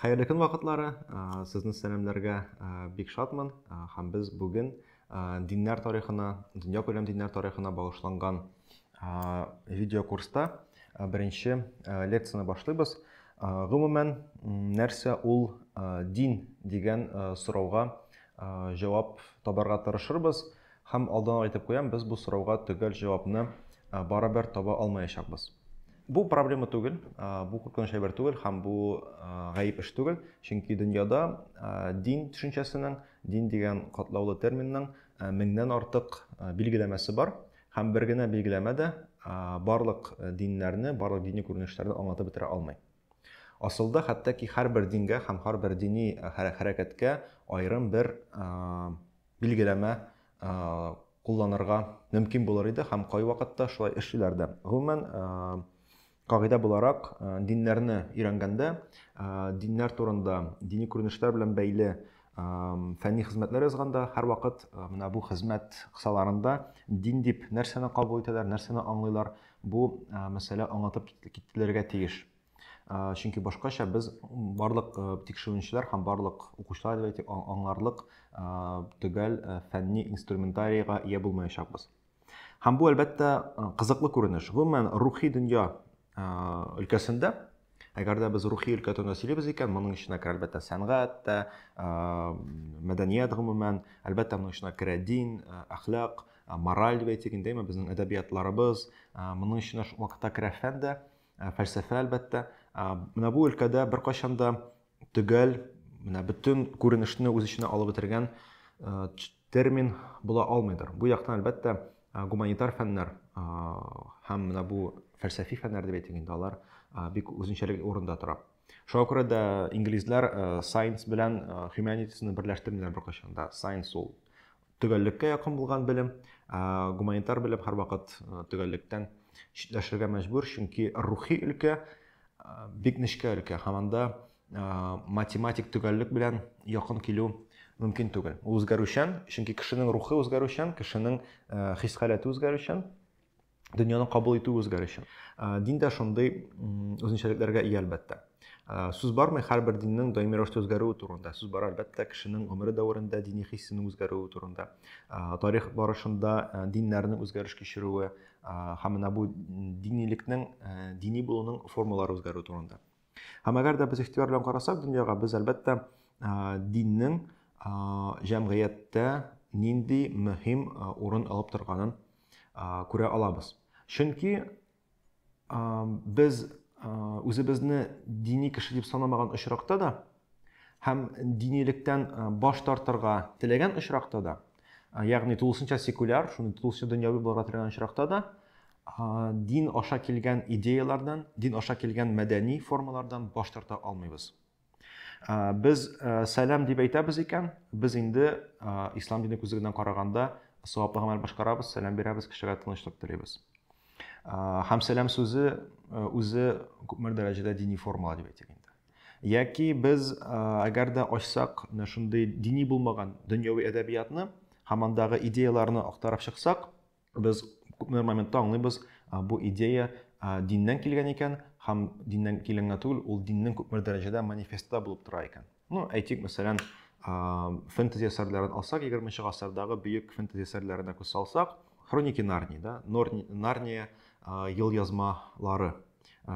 Хәерле көн вакытлары. Сезне сәламләргә бик шатмын. Һәм без бүген диннәр тарихына, дөнья күләм диннәр тарихына багышланган видеокурста беренче лекцияне башлыйбыз. Гомумән, нәрсә ул дин дигән сорауга җавап табарга тырышырбыз. Һәм алдан ук әйтеп куям, без бу сорауга төгәл җавапны барыбер таба алмаячакбыз. Бу проблема түгел, бу куркыныч әйбер түгел һәм бу гаеп эш түгел, чөнки дөньяда дин төшенчәсенең, дин дигән катлаулы терминның меңнән артык билгеләмәсе бар һәм бер генә билгеләмә дә барлык диннәрне, барлык дини күренешләрне аңлатып бетерә алмый. Асылда хәтта ки һәрбер дингә һәм һәрбер дини хәрәкәткә аерым бер билгеләмә кулланырга мөмкин булыр иде һәм кайвакытта шулай эшлиләр дә. Гомумән, кагыйдә буларак, диннәрне өйрәнгәндә, диннәр турында, дини күренешләр белән бәйле фәнни хезмәтләр язганда һәрвакыт менә бу хезмәт кысаларында дин дип нәрсәне кабул итәләр, нәрсәне аңлыйлар, бу мәсьәлә аңлатып кителергә тиеш. чөнки башкача без барлык тикшеренүчеләр һәм барлык укучылар дип әйтик аңларлык төгәл фәнни инструментарийга ия булмаячакбыз һәм бу әлбәттә кызыклы күренеш гомумән рухи дөнья өлкәсендә әгәр дә без рухи өлкә турында сөйлибез икән моның эченә керә әлбәттә сәнгать тә мәдәният гомумән әлбәттә моның эченә керә дин әхлак мораль дип әйтик инде безнең әдәбиятларыбыз моның эченә шул вакытта керә фән дә Ә фәлсәфә, әлбәттә, менә бу өлкәдә беркайчан да төгәл, менә бөтен күренешне үз эченә алып бетергән термин була алмыйдыр. Бу яктан, әлбәттә, гуманитар фәннәр һәм менә бу фәлсәфи фәннәр дип әйтик инде, алар бик үзенчәлекле урында тора. Шуңа күрә дә инглизләр science белән humanities-ны берләштермиләр беркайчан да. Science ул Төгәллеккә якын булган белем, гуманитар белем һәрвакыт төгәллектән читләшергә мәҗбүр, чөнки рухи өлкә бик нечкә өлкә һәм анда математик төгәллек белән якын килү мөмкин түгел. Ул үзгәрүчән, чөнки кешенең рухы үзгәрүчән, кешенең хис халәте үзгәрүчән. дөньяны кабул итү үзгәр өчен. Дин дә шундый үзенчәлекләргә ия әлбәттә. Сүз бармый һәрбер диннең даими рәвештә үзгәрүе турында. Сүз бар әлбәттә кешенең гомере дәверендә дини хиссенең үзгәрүе турында. Тарих барышында диннәрнең үзгәреш кичерүе һәм менә бу динилекнең дини булуның формалары үзгәрү турында. Һәм әгәр дә без ихтыяр белән карасак дөньяга, без әлбәттә диннең җәмгыятьтә нинди мөһим урын алып торганын күрә алабыз. Чөнки без үзебезне дини кеше дип санамаган очракта да һәм динилектән баш тартырга теләгән очракта да, ягъни тулысынча секуляр, шуны тулысынча дөньяви булырга теләгән очракта да, дин аша килгән идеяләрдән, дин аша килгән мәдәни формалардан баш тарта алмыйбыз. Без сәлам дип әйтәбез икән, без инде ислам дине күзлегеннән караганда саваплы гамәл башкарабыз, сәлам бирәбез, кешегә тынычлык телибез. Һәм сәлам сүзе үзе күпмедер дәрәҗәдә дини формула дип әйтик инде. Яки без әгәр дә ачсак, менә шундый дини булмаган дөньяви әдәбиятны һәм андагы идеяләрне актарып чыксак, Без күпмедер моментта аңлыйбыз, бу идея диннән килгән икән, һәм диннән килгән генә түгел, ул диннең күпмедер дәрәҗәдә манифестта булып тора икән. Ну, әйтик, мәсәлән, фэнтези әсәрләрен алсак, 20 гасырдагы бөек фэнтези әсәрләренә күз салсак, Хроники Нарнии, да, Нарния ел язмалары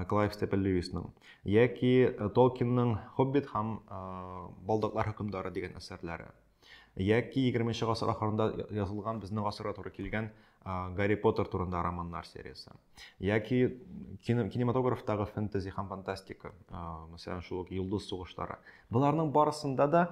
Клайв Степен Льюисның, яки Толкинның Хоббит һәм Балдаклар хөкемдары дигән әсәрләре. Яки 20 нче гасыр ахырында язылган безнең гасырга туры килгән Гарри Поттер турында романнар сериясе. Яки кинематографтагы фэнтези һәм фантастика, мәсәлән, шул ук Йолдыз сугышлары. Боларның барысында да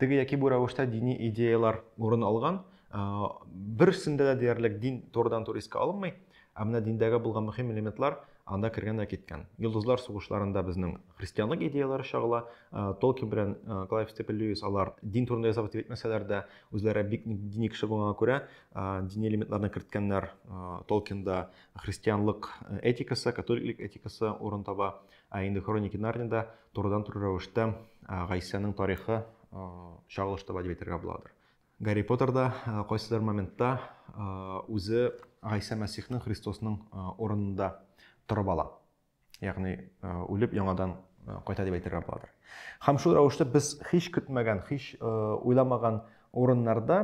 теге яки бу рәвештә дини идеялар урын алган. Берсендә дә диярлек дин турыдан-туры искә алынмый. Ә менә диндәге булган мөһим элементлар анда кергән дә киткән. Йолдызлар сугышларында безнең христианлык идеяләре чагыла. Э, Толкин белән э, Клайв Степен Льюис алар дин турында язабыз дип әйтмәсәләр дә, үзләре бик дини кеше булганга күрә, э, дини элементларны керткәннәр. Толкинда христианлык этикасы, католиклык этикасы урын таба. Ә инде Хроники Нарнияда турыдан-туры рәвештә Гайсәнең тарихы чагылыш таба дип әйтергә буладыр. Гарри Поттерда кайсыдыр моментта үзе Гайсә Мәсихның, Христосның урынында торып ала. Ягъни үлеп яңадан кайта дип әйтергә буладыр. Һәм шул рәвештә без һич көтмәгән, һич уйламаган урыннарда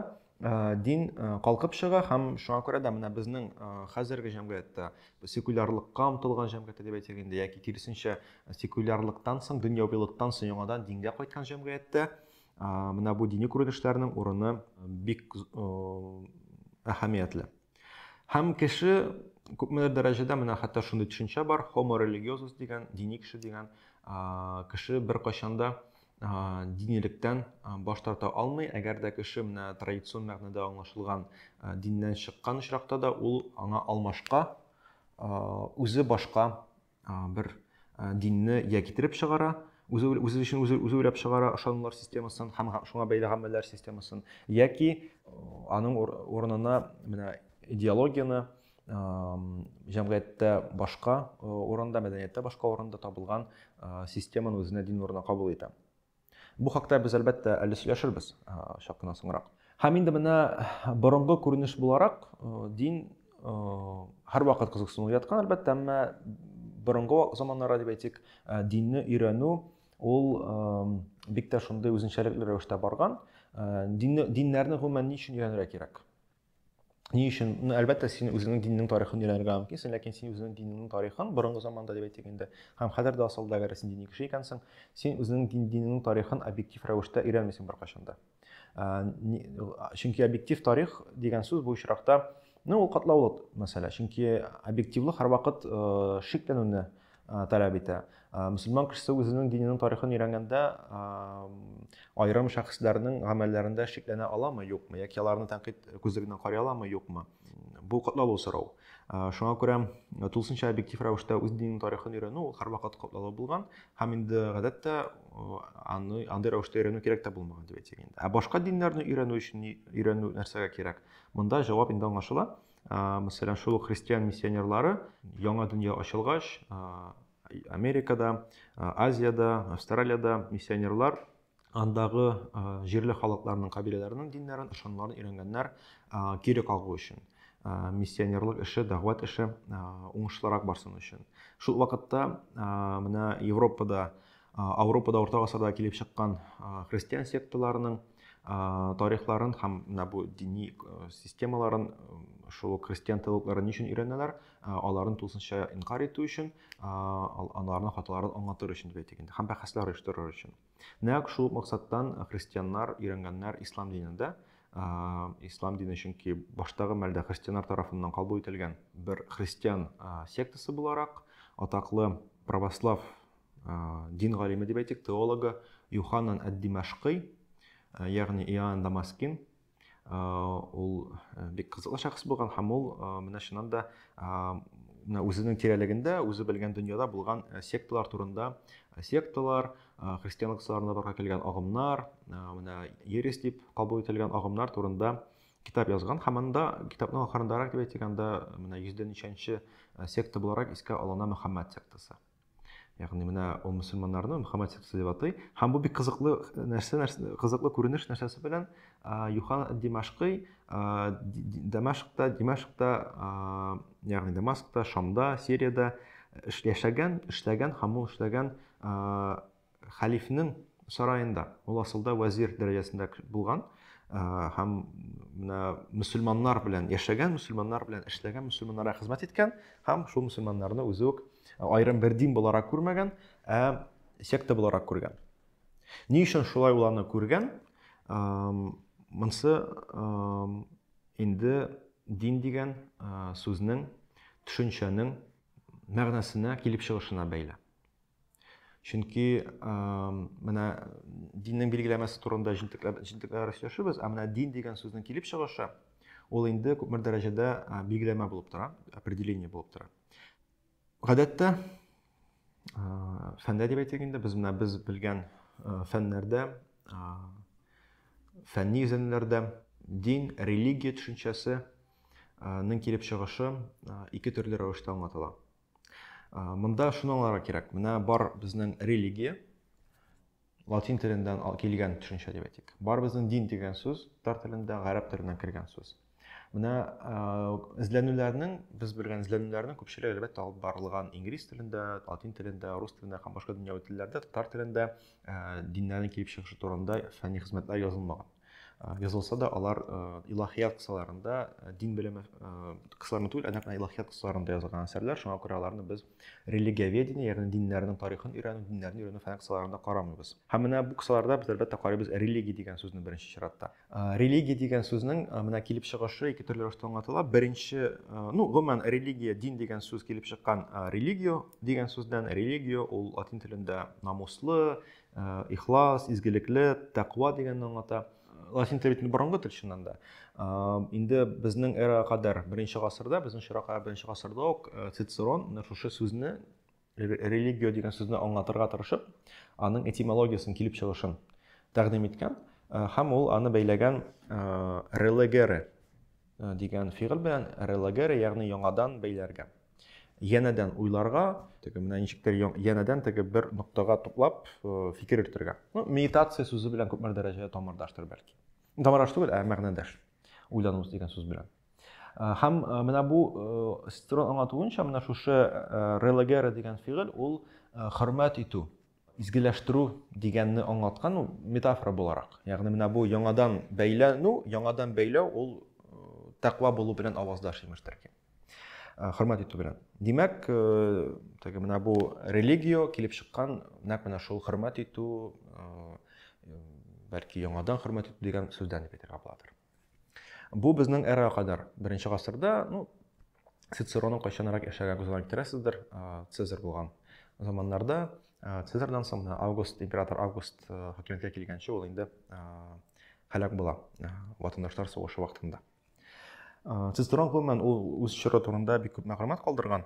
дин калкып чыга һәм шуңа күрә дә менә безнең хәзерге җәмгыятьтә секулярлыкка омтылган җәмгыятьтә дип әйтик инде яки киресенчә секулярлыктан соң дөньявилыктан соң яңадан дингә кайткан җәмгыятьтә Менә бу дини күренешләрнең урыны бик әһәмиятле. Һәм кеше күпмедер дәрәҗәдә менә хәтта шундый төшенчә бар, homo religiosus дигән, дини кеше дигән, кеше бер кайчанда динилектән баш тарта алмый, әгәр дә кеше менә традицион мәгънәдә аңлашылган диннән чыккан очракта да ул аңа алмашка үзе башка бер динне я китереп чыгара, үзе үзе өчен үзе үзе уйлап чыгара ышанулар системасын һәм шуңа бәйле гамәлләр системасын яки аның урынына менә идеологияне җәмгыятьтә башка урында мәдәнияттә башка урында табылган системаны үзенә дин урынына кабул итә Бу хакта без, әлбәттә, әле сөйләшербез чак кына соңрак. Һәм инде менә борынгы күренеш буларак дин һәрвакыт кызыксыну яткан, әлбәттә, әмма борынгы заманнарда дип әйтик, динне өйрәнү ул бик тә шундый үзенчәлекле рәвештә барган. Динне, диннәрне гомумән ни өчен өйрәнергә кирәк? Ни өчен? Ну, әлбәттә, син үзеңнең диннең тарихын өйрәнергә мөмкинсең, ләкин син үзеңнең диннең тарихын борынгы заманда дип әйтик инде, һәм хәзер дә асылда әгәр син дини кеше икәнсең, син үзеңнең дин, динеңнең тарихын объектив рәвештә өйрәнмисең беркайчан да. Чөнки объектив тарих дигән сүз бу очракта, ну, ул катлаулы мәсьәлә, чөнки объективлык һәрвакыт шикләнүне таләп итә. Мөселман кешесе үзенең диненең тарихын өйрәнгәндә аерым шәхесләрнең гамәлләрендә шикләнә аламы, юкмы, яки аларны тәнкыйть күзлегеннән карый аламы, юкмы? Бу катлаулы сорау. Шуңа күрә тулысынча объектив рәвештә үз диненең тарихын өйрәнү ул һәрвакыт катлаулы булган һәм инде гадәттә аны андый рәвештә өйрәнү кирәк тә булмаган дип әйтик инде. Ә башка диннәрне өйрәнү өчен өйрәнү нәрсәгә кирәк? Монда җавап инде аңлашыла. мәсәлән шул ук христиан миссионерлары яңа дөнья ачылгач америкада азиядә австралиядә миссионерлар андагы җирле халыкларның кабиләләренең диннәрен ышанмаларын өйрәнгәннәр кире кагу өчен миссионерлык эше дәгъват эше уңышлырак барсын өчен шул вакытта менә европада Ауропада орта гасырда килеп чыккан христиан секталарының тарихларын һәм менә бу дини системаларын шул христиан теологларын өчен өйрәнәләр, аларын тулысынча инкар итү өчен, аларның хаталарын аңлатыр өчен дип әйтик инде, һәм бәхәсләр оештырыр өчен. Нәкъ шул максаттан христианнар өйрәнгәннәр ислам динендә, ислам дине чөнки баштагы мәлдә христианнар тарафыннан кабул ителгән бер христиан сектасы буларак атаклы православ дин галиме дип әйтик, теологы Юханан әд-Димашкый, ягъни Иоанн Дамаскин, ул бик кызыклы шәхес булган һәм ул менә шуннан да менә үзенең тирәлегендә, үзе белгән дөньяда булган секталар турында, секталар, христианлык сарына барга килгән агымнар, менә ересь дип кабул ителгән агымнар турында китап язган һәм анда китапның ахырындарак дип әйтик, анда менә 100 ничәнче секта буларак искә алына Мөхәммәд сектасы. Ягъни менә ул мөселманнарны Мөхәммәд сектасы дип атый. Һәм бу бик кызыклы нәрсә, нәрсә кызыклы күренеш нәрсәсе белән Юхан Димашкый Дамашкта, Димашкта, ягъни Дамаскта, Шамда, Сириядә яшәгән, эшләгән һәм ул эшләгән Хәлифнең сараенда, ул асылда вәзир дәрәҗәсендә булган һәм менә мөселманнар белән яшәгән, мөселманнар белән эшләгән, мөселманнарга хезмәт иткән һәм шул мөселманнарны үзе үк аерым бер дин буларак күрмәгән, ә секта буларак күргән. Ни өчен шулай ул аны күргән? Монсы инде дин дигән сүзнең, төшенчәнең мәгънәсенә, килеп чыгышына бәйле. Чөнки менә диннең билгеләмәсе турында җентекләп җентекләр сөйләшәбез, ә менә дин дигән сүзнең килеп чыгышы ул инде күпмер дәрәҗәдә билгеләмә булып тора, определение булып тора. Гадәттә фәндә дип әйтик инде, без менә без белгән фәннәрдә, фәнни изелемнәрдә дин, религия төшенчәсе ның килеп чыгышы ике төрле рәвештә аңлатыла. Монда шуны аңларга кирәк. Менә бар безнең религия, латин теленнән килгән төшенчә дип әйтик. Бар безнең дин дигән сүз татар телендә, гарәп теленнән кергән сүз. Менә эзләнүләрнең, без белгән эзләнүләрнең күпчелеге әлбәттә алып барылган инглиз телендә, латин телендә, рус телендә һәм башка дөньяви телләрдә, татар телендә диннәрнең килеп чыгышы турында фәнни хезмәтләр язылмаган. Язылса да, алар илаһият кысаларында, дин белеме кысаларында түгел, ә илаһият кысаларында язылган әсәрләр. Шуңа күрә аларны без религиоведение, ягъни диннәрнең тарихын өйрәнү, диннәрне өйрәнү фән кысаларында карамыйбыз. Һәм менә бу кысаларда без әлбәттә карыйбыз религия дигән сүзне беренче чиратта. Религия дигән сүзнең менә килеп чыгышы ике төрле рәвештә аңлатыла. Беренче, ну, гомумән религия, дин дигән сүз килеп чыккан религио дигән сүздән. Религио ул латин телендә намуслы, Э, ихлас, изгелекле, тәкъва дигәнне аңлата. Латин теле бит борынгы тел чыннан да. Э, инде безнең эра кадәр, беренче гасырда, безнең чиракка беренче гасырда ук э, Цицерон менә шушы сүзне религия дигән сүзне аңлатырга тырышып, аның этимологиясен килеп чыгышын тәкъдим иткән һәм ул аны бәйләгән релегере Э, дигән фигыль белән релогере ягъни яңадан бәйләргә янәдән уйларга теге менә ничектер янәдән теге бер ноктага туплап э, фикер йөртергә ну, медитация сүзе белән күпмер дәрәҗәдә тамырдаштыр бәлки тамырдаш түгел ә мәгънәдәш уйлану дигән сүз белән э, һәм менә бу строн аңлатуынча менә шушы релогера дигән фигыль ул хөрмәт итү Изгеләштерү дигәнне аңлаткан ул метафора буларак. Ягъни менә бу яңадан бәйләнү, яңадан бәйләү ул тәкъва булу белән аваздаш имештер ки. Хөрмәт итү белән. Димәк, теге менә бу религия килеп чыккан нәкъ менә шул хөрмәт итү, бәлки яңадан хөрмәт итү дигән сүздән дип әйтергә буладыр. Бу безнең эрага кадәр беренче гасырда, ну, Цицероның кайчанрак яшәгән күзенә китерәсездер, Цезарь булган заманнарда, Цезарьдан соң менә Август, император Август хакимияткә килгәнче ул инде һәлак була ватандашлар сугышы вакытында. Цицерон гомумән ул үз чоры турында бик күп мәгълүмат калдырган,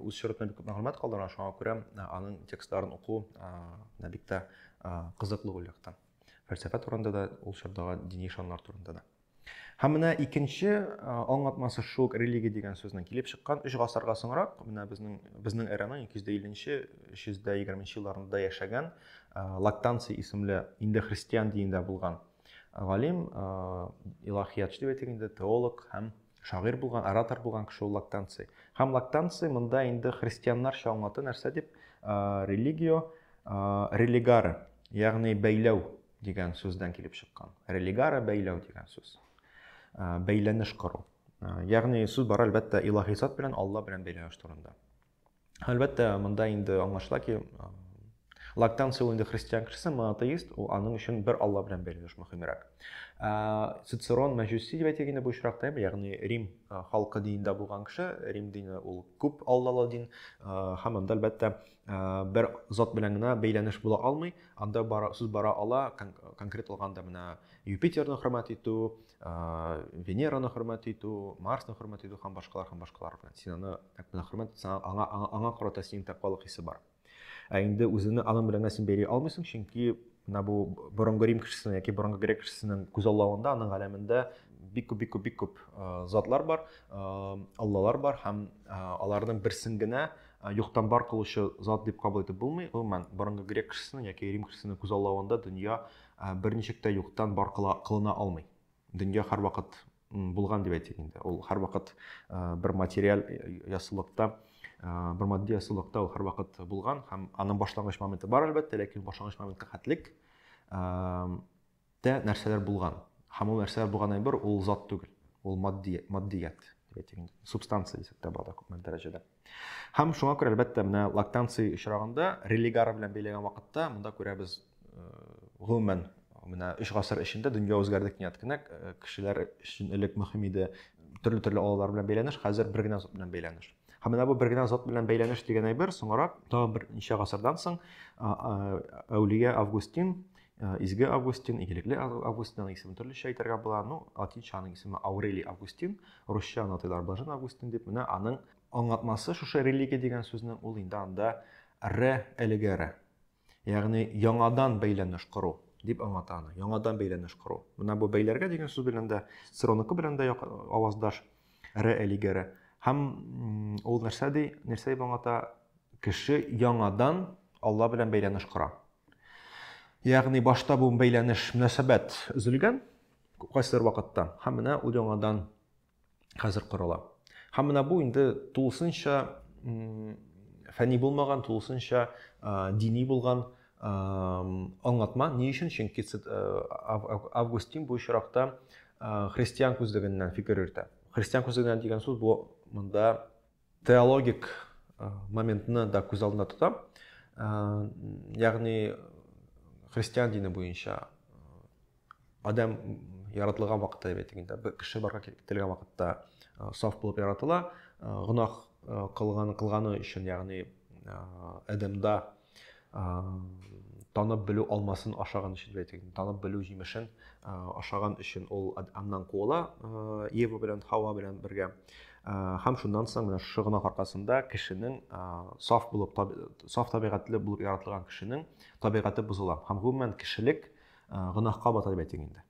үз чоры турында бик күп мәгълүмат калдырган, шуңа күрә аның текстларын уку бик тә кызыклы ул яктан. фәлсәфә турында да ул чордагы дини ышаннар турында да һәм менә икенче аңлатмасы шул религия дигән сүзнең килеп чыккан өч гасырга соңрак менә безнең безнең эраның ике йөз дә илленче өч йөз дә егерменче елларында яшәгән лактанций исемле инде христиан динендә булган галим илаһиятчы дип әйтик инде теолог һәм Шагыйрь булган, оратор булган кеше ул лактанций. Һәм лактанций монда инде христианнарча аңлату нәрсә дип, религио религары, ягъни бәйләү дигән сүздән килеп чыккан. Религара бәйләү дигән сүз. Бәйләнеш кору. Ягъни сүз бар әлбәттә илаһи зат белән, Алла белән бәйләнеш турында. Әлбәттә, монда инде аңлашыла ки, Лактанция ул инде христиан кешесе, монотеист, ул аның өчен бер алла белән бәйле мөһимрәк. Цицерон мәҗүси дип әйтик инде бу очракта, ягъни Рим халкы динендә булган кеше, Рим дине ул күп аллалы дин, һәм анда әлбәттә бер зат белән генә бәйләнеш була алмый, анда бара, сүз бара ала конкрет алганда менә Юпитерны хөрмәт итү, Венераны хөрмәт итү, Марсны хөрмәт итү һәм башкалар һәм башкалар белән. Син аны нәкъ менә хөрмәт итсәң, аңа, аңа, аңа карата синең тәкъвалык хисе бар. Ә инде үзеңне аның белән син бәйли алмыйсың, чөнки менә бу борынгы Рим кешесенең яки борынгы грек кешесенең күзаллавында, аның галәмендә бик күп, бик күп, бик күп затлар бар, аллалар бар һәм аларның берсен генә юктан бар кылучы зат дип кабул итеп булмый. Гомумән, борынгы грек кешесенең яки Рим кешесенең күзаллавында дөнья Ә, бер ничек тә юктан бар кыла, кылына алмый. Дөнья һәрвакыт булган дип әйтик инде. Ул һәрвакыт ә, бер материаль ясылыкта, ә, бер матди ясылыкта ул һәрвакыт булган һәм аның башлангыч моменты бар әлбәттә, ләкин башлангыч моментка хәтлек тә нәрсәләр булган. Һәм ул нәрсәләр булган әйбер ул зат түгел, ул матди, матдият, субстанция дисәк тә бала күпме дәрәҗәдә. Һәм шуңа күрә, әлбәттә, менә лактанция очрагында, религар белән бәйләгән вакытта, монда күрәбез, э, гомумән, менә 3 гасыр эчендә дөнья үзгәрде кинәт кенә, э, кешеләр өчен элек мөһим иде төрле-төрле алалар белән бәйләнеш, хәзер бер генә зат белән бәйләнеш. Һәм менә бу бер генә зат белән бәйләнеш дигән әйбер, соңрак, тагын бер ничә гасырдан соң, әүлия Августин Э, изге августин игелекле августин аның исемен төрлечә әйтергә була ну латинча аның исеме аурелий августин русча аны атыйлар блажен августин дип менә аның аңлатмасы шушы религия дигән сүзнең ул инде анда ре әлеге ре ягъни яңадан бәйләнеш кору дип аңлата аны яңадан бәйләнеш кору менә бу бәйләргә дигән сүз белән дә сироныкы белән дә аваздаш ре әлеге ре һәм ул нәрсә ди нәрсә дип аңлата кеше яңадан алла белән бәйләнеш кора Ягъни башта бу бәйләнеш мөнәсәбәт өзелгән кайсыдыр вакытта һәм менә ул яңадан хәзер корыла. Һәм менә бу инде тулысынча фәни булмаган, тулысынча дини булган аңлатма. Ни өчен? Чөнки Августин бу очракта христиан күзлегеннән фикер йөртә. Христиан күзлегеннән дигән сүз бу монда Теологик моментны да күз алдында тотам. Ягъни христиан дине буенча адам яратылган вакытта дип әйтик инде бер кеше барга китерелгән вакытта саф булып яратыла гөнаһ кылган кылганы өчен ягъни адәмда танып белү алмасын ашаган өчен дип әйтик танып белү җимешен ашаган өчен ул аннан куыла ева белән хава белән бергә һәм шуннан соң менә шушы гөнаһ аркасында кешенең саф булып саф табигатьле булып яратылган кешенең табигате бозыла һәм гомумән кешелек гөнаһка бата дип әйтик инде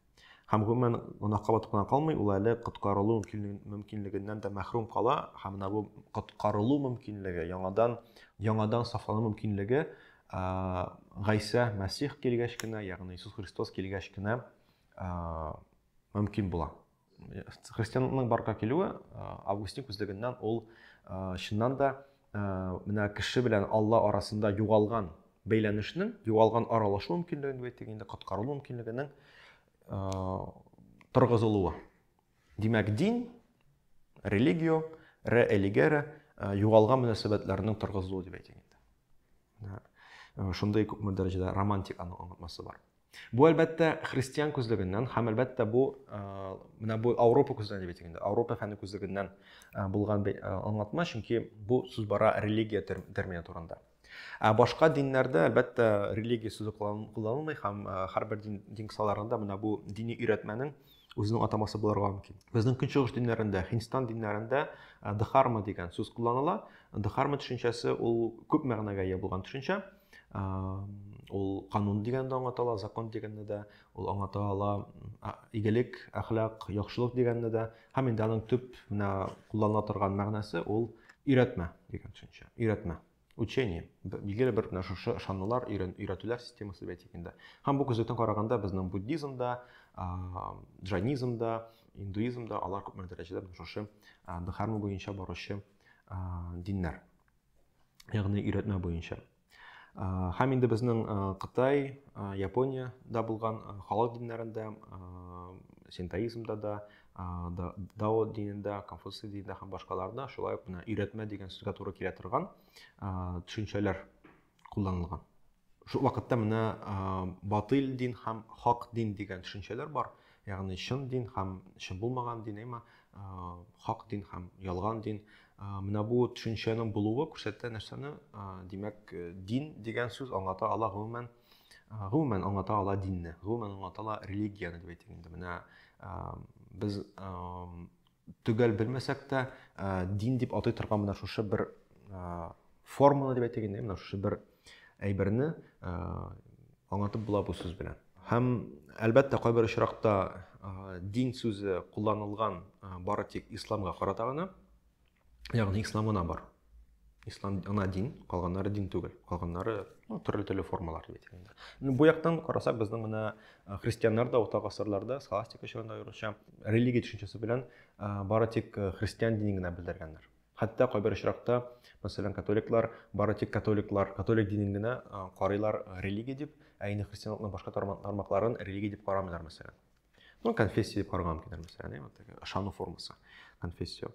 Һәм гомумән гөнаһка батып кына калмый, ул әле коткарылу мөмкинлегеннән дә мәхрүм кала, һәм менә бу коткарылу мөмкинлеге, яңадан яңадан сафлану мөмкинлеге Гайсә Мәсих килгәч кенә, ягъни Иисус Христос килгәч кенә мөмкин була. Христианның барга килүе Августин күзлегеннән ул чыннан да Ә, менә кеше белән Алла арасында югалган бәйләнешнең, югалган аралашу мөмкинлеген дип әйтик инде, коткарылу мөмкинлегенең торгызылуы. Димәк, дин, религио, ре элигере югалган мөнәсәбәтләрнең торгызылуы дип әйтик инде. Шундый күпме дәрәҗәдә романтиканың онытмасы бар. Бу әлбәттә христиан күзлегеннән һәм әлбәттә бу менә бу Ауропа күзлегеннән дип әйтик инде. Ауропа фәне күзлегеннән булган аңлатма, чөнки бу сүз бара религия термины турында. Ә башка диннәрдә әлбәттә религия сүзе кулланылмый һәм һәрбер дин дин кысаларында менә бу дини өйрәтмәнең үзенең атамасы булырга мөмкин. Безнең көнчыгыш диннәрендә, Һиндстан диннәрендә дхарма дигән сүз кулланыла. Дхарма төшенчәсе ул күп мәгънәгә ия булган төшенчә. ул канун дигән дә аңлата закон дигәнне дә ул аңлата ала игелек әхлак яхшылык дигәнне дә һәм инде аның төп менә кулланыла торган мәгънәсе ул өйрәтмә дигән төшенчә өйрәтмә учение билгеле бер менә шушы ышанулар өйрәтүләр системасы әйтик инде һәм бу күзлектән караганда безнең буддизмда джайнизмда индуизмда алар күпмедер дәрәҗәдә шушы дхарма буенча баручы диннәр ягъни өйрәтмә буенча. Һәм инде безнең Кытай, Япониядә булган халык диннәрендә, синтоизмда да, Дао динендә, Конфуций динендә һәм башкаларда шулай ук менә өйрәтмә дигән сүзгә туры килә торган төшенчәләр кулланылган. Шул вакытта менә батыл дин һәм хак дин дигән төшенчәләр бар. Ягъни чын дин һәм чын булмаган дин, әмма хак дин һәм ялган дин. Менә бу төшенчәнең булуы күрсәтә нәрсәне? Димәк, э, дин дигән сүз аңлата ала гомумән гомумән аңлата ала динне, гомумән аңлата ала религияне дип әйтик инде. Менә без Төгәл белмәсәк тә, дин дип атый торган менә шушы бер форманы дип әйтик инде, менә шушы бер әйберне аңлатып була бу сүз белән. Һәм әлбәттә кайбер очракта дин сүзе кулланылган бары тик исламга карата гына, ягъни исламына бар. ислам ана дин калганнары дин түгел калганнары ну, төрле төрле формалар бит инде ну, бу яктан карасак безнең менә э, христианнар да урта гасырларда схоластика чорында аеруча религия төшенчәсе белән э, бары тик э, христиан динен генә белдергәннәр хәтта кайбер очракта мәсәлән католиклар бары тик католиклар католик динен генә карыйлар религия дип ә инде христианлыкның башка тармакларын религия дип карамыйлар мәсәлән ну конфессия деп караган микәндер мәсәлән әйе вот ышану формасы конфессия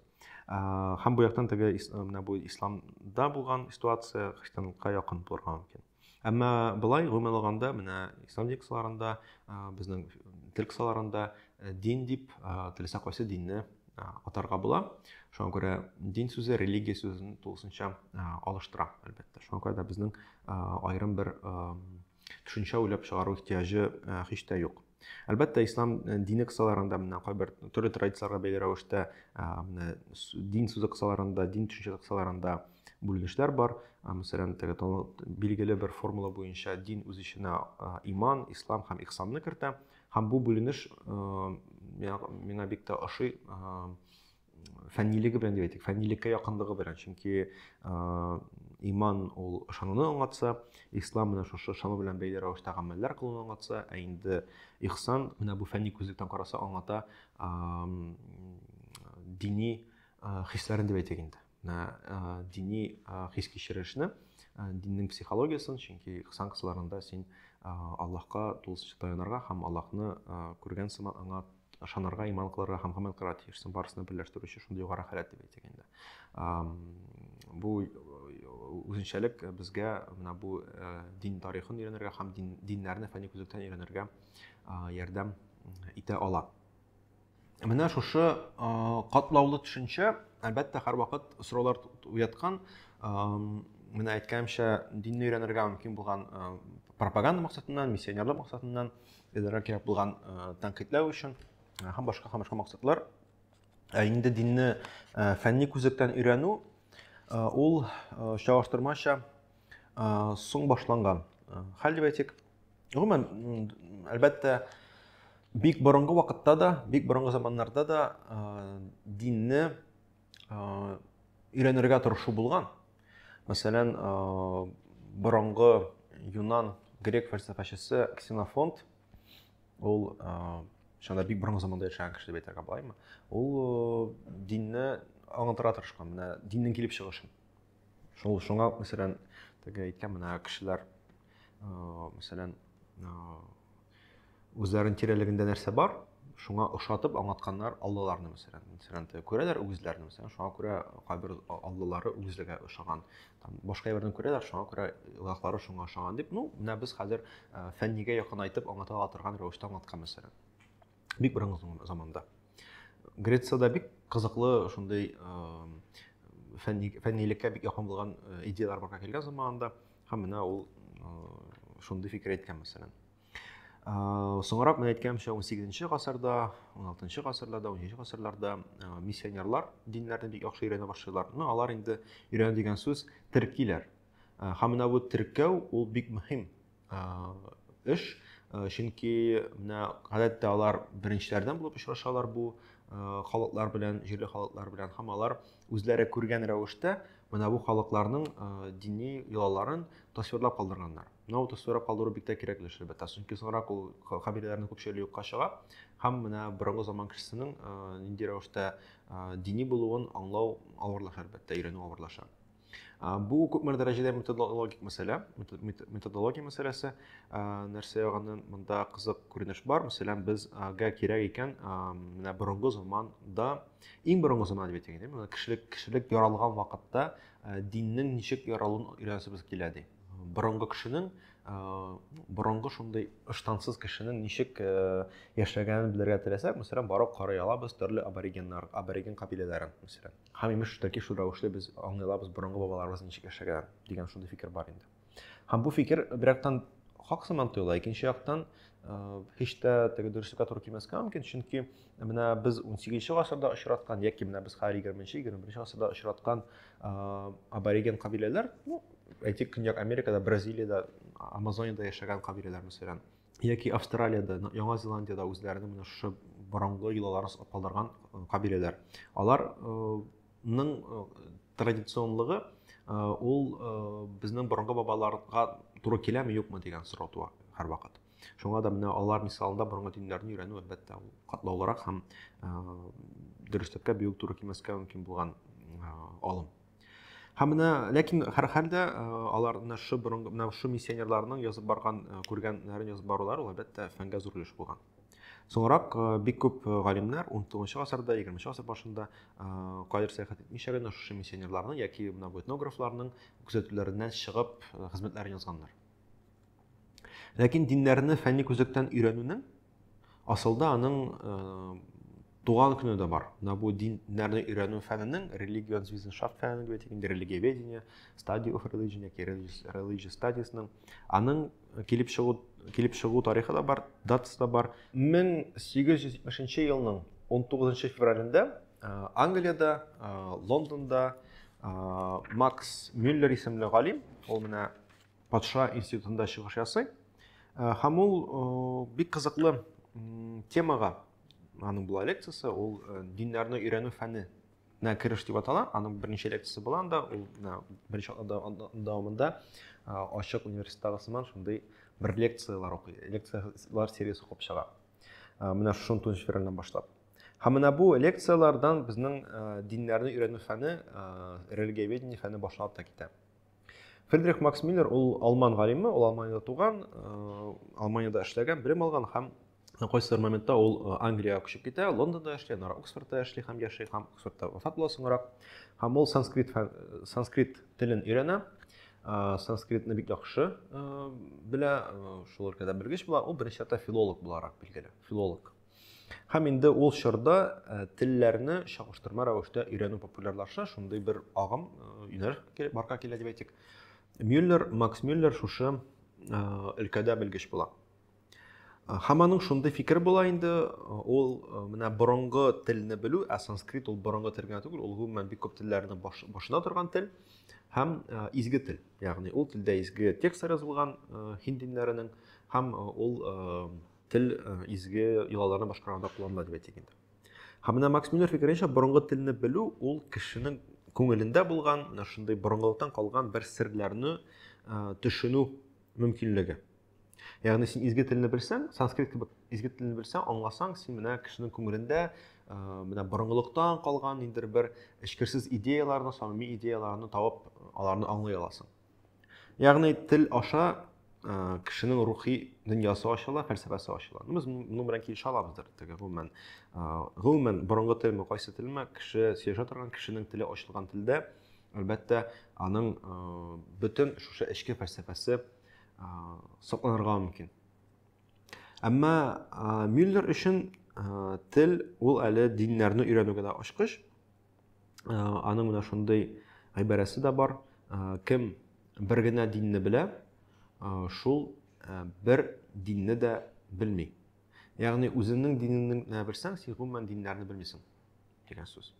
һәм бу яктан теге менә бу исламда булган ситуация христианлыкка якын булырга мөмкин әмма былай гомумән алганда менә ислам текстларында безнең тел кысаларында дин дип теләсә кайсы динне атарга була шуңа күрә дин сүзе религия сүзен тулысынча алыштыра әлбәттә шуңа күрә дә безнең аерым бер төшенчә уйлап чыгару ихтыяҗы э, һич тә юк әлбәттә ислам э, дине кысаларында менә кайбер төрле традицияләргә бәйле рәвештә э, дин сүзе кысаларында дин төшенчәсе кысаларында бүленешләр бар мәсәлән теге билгеле бер формула буенча дин үз эченә иман ислам һәм ихсанны кертә һәм бу бүленеш миңа бик тә ошый фәннилеге белән дип әйтик фәннилеккә якынлыгы белән чөнки иман ул ышануны аңлатса ислам менә шушы ышану белән бәйле рәвештә гамәлләр кылуны аңлатса ә инде ихсан менә бу фәнни күзлектән караса аңлата дини хисләрен дип әйтик инде дини хис кичерешне диннең психологиясен чөнки ихсан кысаларында син аллаһка тулысынча таянырга һәм аллаһны күргән сыман аңа ышанырга иман кылырга һәм гамәл кылырга тиешсең барысын берләштерүче шундый югары халәт дип әйтик инде бу үзенчәлек безгә менә бу дин тарихын өйрәнергә һәм дин, диннәрне фәнни күзлектән өйрәнергә ярдәм итә ала Менә шушы катлаулы төшенчә, әлбәттә, һәрвакыт сораулар уяткан. Менә әйткәнемчә, динне өйрәнергә мөмкин булган пропаганда максатыннан, миссионерлык максатыннан, эзләргә кирәк булган тәнкыйтьләү өчен һәм башка һәм башка максатлар. Ә инде динне фәнни күзлектән өйрәнү ул чагыштырмача соң башланган хәл дип әйтик гомумән әлбәттә бик борынгы вакытта да бик борынгы заманнарда да динне өйрәнергә тырышу булган мәсәлән борынгы юнан грек фәлсәфәчесе ксенофонт ул шунда бик борынгы заманда яшәгән кеше дип әйтергә болаймы ул динне аңлатырга тырышкан менә диннең килеп чыгышын Шул шуңа мәсәлән, теге әйткән менә кешеләр, мәсәлән, үзләрен тирәлегендә нәрсә бар, шуңа ошатып аңлатканнар аллаларны мәсәлән мәсәлән күрәләр үгезләрне мәсәлән шуңа күрә кайбер аллалары үгезләргә ошаган там башка җирләрдән күрәләр шуңа күрә илаһлары шуңа ошаган дип ну менә без хәзер фәннигә якынайтып аңлата ала торган рәвештә аңлаткан мәсәлән бик борынгы заманда грецияда бик кызыклы шундый фәннилеккә бик якын булган идеялар барга килгән заманында һәм менә ул шундый фикер әйткән мәсәлән соңрак мен әйткәнемчә 18 гасырда 16 гасырда да 17 гасырларда миссионерлар диннәрне бик яхшы өйрәнә башлыйлар но алар инде өйрәнү дигән сүз теркиләр һәм менә бу теркәү ул бик мөһим эш чөнки менә гадәттә алар беренчеләрдән булып очрашалар бу халыклар белән җирле халыклар белән һәм алар үзләре күргән рәвештә менә бу халыкларның дини йолаларын тасвирлап калдырганнар менә ул тасвирлап калдыру бик тә кирәкле эш әлбәттә чөнки соңрак ул кабиләләрнең күпчелеге юкка чыга һәм менә борынгы заман кешесенең нинди рәвештә дини булуын аңлау авырлаша әлбәттә өйрәнү авырлаша Бу күпмер дәрәҗәдә методологик мәсьәлә, методология мәсьәләсе. Нәрсә ягыннан монда кызык күренеш бар. Мәсәлән, безгә кирәк икән менә борынгы заманда, иң борынгы заман дип әйтик инде, кешелек кешелек яралган вакытта диннең ничек яралуын өйрәнәсебез килә ди. Борынгы кешенең борынгы шундый ыштансыз кешенең ничек яшәгәнен белергә теләсәк, мәсәлән, барып карый алабыз төрле аборигеннар, абориген кабиләләрен, мәсәлән. Һәм имеш таки шул рәвешле без аңлый алабыз борынгы бабаларыбыз ничек яшәгән дигән шундый фикер бар инде. Һәм бу фикер бер яктан хак сыман тоела, икенче яктан һич тә теге дөреслеккә туры килмәскә мөмкин, чөнки менә без 18 гасырда очраткан яки менә без хәзер 20-21 гасырда очраткан абориген кабиләләр, ну, әйтик, Көньяк Америкада, Бразилиядә, Амазонияда яшәгән кабиләләр мәсәлән, яки австралиядә яңа зеландиядә үзләренең менә шушы борынгы йолаларын саклап калдырган кабиләләр аларның традиционлыгы ул безнең борынгы бабаларга туры киләме юкмы дигән сорау туа һәрвакыт шуңа да менә алар мисалында борынгы диннәрне өйрәнү әлбәттә ул катлаулырак һәм дөреслеккә бик үк туры килмәскә мөмкин булган алым һәм менә ләкин һәрхәлдә э, алар менә шу борынгы менә шу миссионерларның язып барган э, күргәннәрен язып барулары ул әлбәттә фәнгә зур өлеш булган соңрак э, бик күп галимнәр 19 гасырда 20 гасыр башында кайбер сәяхәт итмичә генә шушы миссионерларның яки менә бу этнографларның күзәтүләреннән чыгып хезмәтләрен язганнар ләкин диннәрне фәнни күзлектән өйрәнүнең Асылда аның э, туган көне дә бар. Менә бу диннәрне өйрәнү фәненең религион-визеншафт фәне дип әйтик, религиоведение, study of religion яки religious studies-ның аның килеп чыгу килеп чыгу тарихы да бар, датасы да бар. 1870 елның 19 февралендә э, Англиядә, э, Лондонда Макс Мюллер исемле галим, ул менә патша институтында чыгыш ясый э, һәм ул э, бик кызыклы темага аның була лекциясе ул э, диннәрне өйрәнү фәне на кереш дип атала аның берничә лекциясе була анда ул беренче дәвамында ачык университеттагы сыман шундый бер лекциялар укый лекциялар сериясе укып чыга менә шушы тунҗи февральдән башлап һәм менә бу лекциялардан безнең диннәрне өйрәнү фәне религиоведение фәне башланып та китә Фридрих Макс Миллер ул алман галиме, ул Алманиядә туган, Алманиядә эшләгән, белем алган һәм кайсыдыр моментта ул Англиягә күчеп китә, Лондонда эшли, аннары Оксфордта эшли һәм яши һәм Оксфордта вафат була соңрак. Һәм ул санскрит санскрит телен өйрәнә, санскритны бик яхшы белә, шул өлкәдә белгеч була, ул беренче чиратта филолог буларак билгеле, филолог. Һәм инде ул чорда э, телләрне чагыштырма рәвештә өйрәнү популярлаша, шундый бер агым э, юнәлеш барка килә дип әйтик. Мюллер, Макс Мюллер шушы э, өлкәдә белгеч була. Һәм аның шундый фикер була инде, ул менә борынгы телне белү, ә санскрит ул борынгы тел генә түгел, ул гомумән бик күп телләрне башына торган тел һәм изге тел. Ягъни ул телдә изге текстлар язылган һинд диннәренең һәм ул Тел э, изге йолаларны башкарганда кулланыла дип әйтик инде. Һәм менә Макс Мюллер фикеренчә, борынгы телне белү ул кешенең күңелендә булган, менә шундый борынгылыктан калган бер серләрне э, төшенү мөмкинлеге. Ягъни син изге телне белсәң, санскрит кебек изге телне белсәң, аңласаң, син менә кешенең күңелендә э, менә борынгылыктан калган ниндидер бер эчкерсез идеяларны, самими идеяларны табып, аларны аңлый аласың. Ягъни тел аша кешенең рухи дөньясы ачыла, фәлсәфәсе ачыла. Без моның белән килешә алабыздыр. Теге гомумән, гомумән борынгы телме, кайсы телме, кеше сөйләшә торган кешенең теле ачылган телдә, әлбәттә, аның бөтен шушы эчке фәлсәфәсе сакланырга мөмкин. Әмма Мюллер өчен тел ул әле диннәрне өйрәнүгә дә ачкыч, Э, аның менә шундый гыйбарәсе дә бар э, кем бер генә динне белә э, шул бер динне дә белми ягъни үзеңнең динеңне генә белсәң син гомумән диннәрне белмисең дигән сүз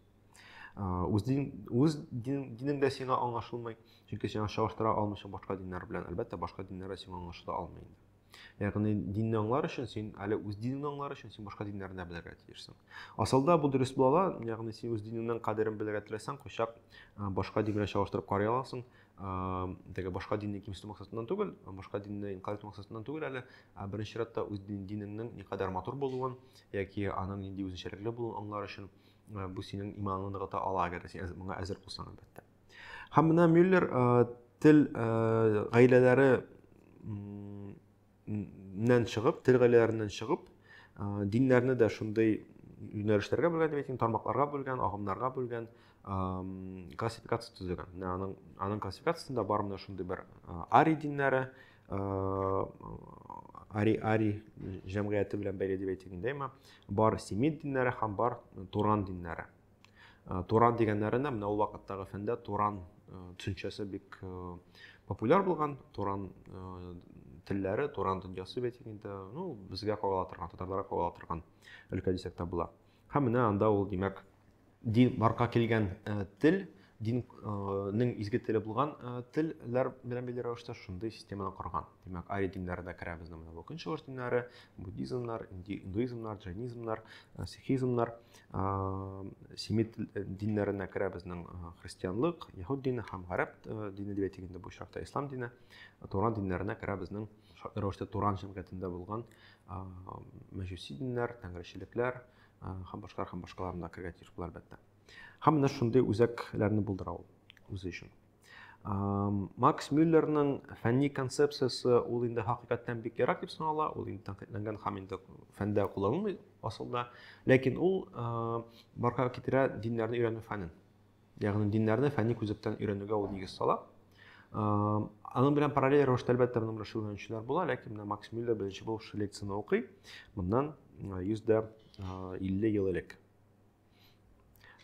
үз дин үз динең дә сиңа аңлашылмый чөнки сиңа чагыштыра алмыйсың башка диннәр белән әлбәттә башка диннәр дә сиңа аңлашыла алмый инде Ягъни динне аңлар өчен син әле үз динеңне аңлар өчен син башка диннәрне дә белергә тиешсең. Асылда бу дөрес була ала, ягъни син үз динеңнең кадерен белергә теләсәң, кайчак башка дин белән чагыштырып карый аласың. Теге башка динне кимсетү максатыннан түгел, башка динне инкар итү максатыннан түгел әле, ә беренче чиратта үз динеңнең никадәр матур булуын яки аның нинди үзенчәлекле булуын аңлар өчен бу синең иманыңны ныгыта ала, әгәр син моңа әзер булсаң, әлбәттә. Һәм менә Мюллер тел гаиләләре нән чыгып, тел гаиләләреннән чыгып, диннәрне дә шундый юнәлешләргә бүлгән дип әйтим, тармакларга бүлгән, агымнарга бүлгән, классификация төзегән. Менә аның аның классификациясендә бар менә шундый бер ари диннәре, ари ари җәмгыяте белән бәйле дип әйтик инде, әмма бар семит диннәре һәм бар туран диннәре. Э, туран дигәннәренә менә ул вакыттагы фәндә туран э, төшенчәсе бик э, популяр булган туран телләре туран дөньясы бит инде ну безгә кагыла торган татарларга кагыла торган өлкә дисәк тә була һәм менә анда ул димәк дин барка килгән тел диннең изге теле булган телләр белән бәйле рәвештә шундый системаны корган димәк арий диннәре дә керә безнең менә бу көнчыгыш диннәре буддизмнар индуизмнар джайнизмнар сихизмнар семит э, диннәренә керә безнең э, христианлык яһуд дине һәм гарәп э, дине дип әйтик инде бу очракта ислам дине туран диннәренә керә безнең рәвештә туран җәмгыятендә булган мәҗүси диннәр тәңречелекләр һәм башкалар һәм башкалар монда керергә тиеш була әлбәттә һәм менә шундый үзәкләрне булдыра ул үзе өчен Макс Мюллерның фәнни концепциясе ул инде хакыйкатьтән бик ерак дип санала, ул инде тәнкыйтьләнгән һәм инде фәндә кулланылмый асылда. Ләкин ул барга китерә диннәрне өйрәнү фәнен. Ягъни диннәрне фәнни күзлектән өйрәнүгә ул нигез сала. Аның белән параллель рәвештә әлбәттә моның белән шөгыльләнүчеләр була, ләкин менә Макс Мюллер беренче булып шул лекцияне укый. Моннан 150 ел элек.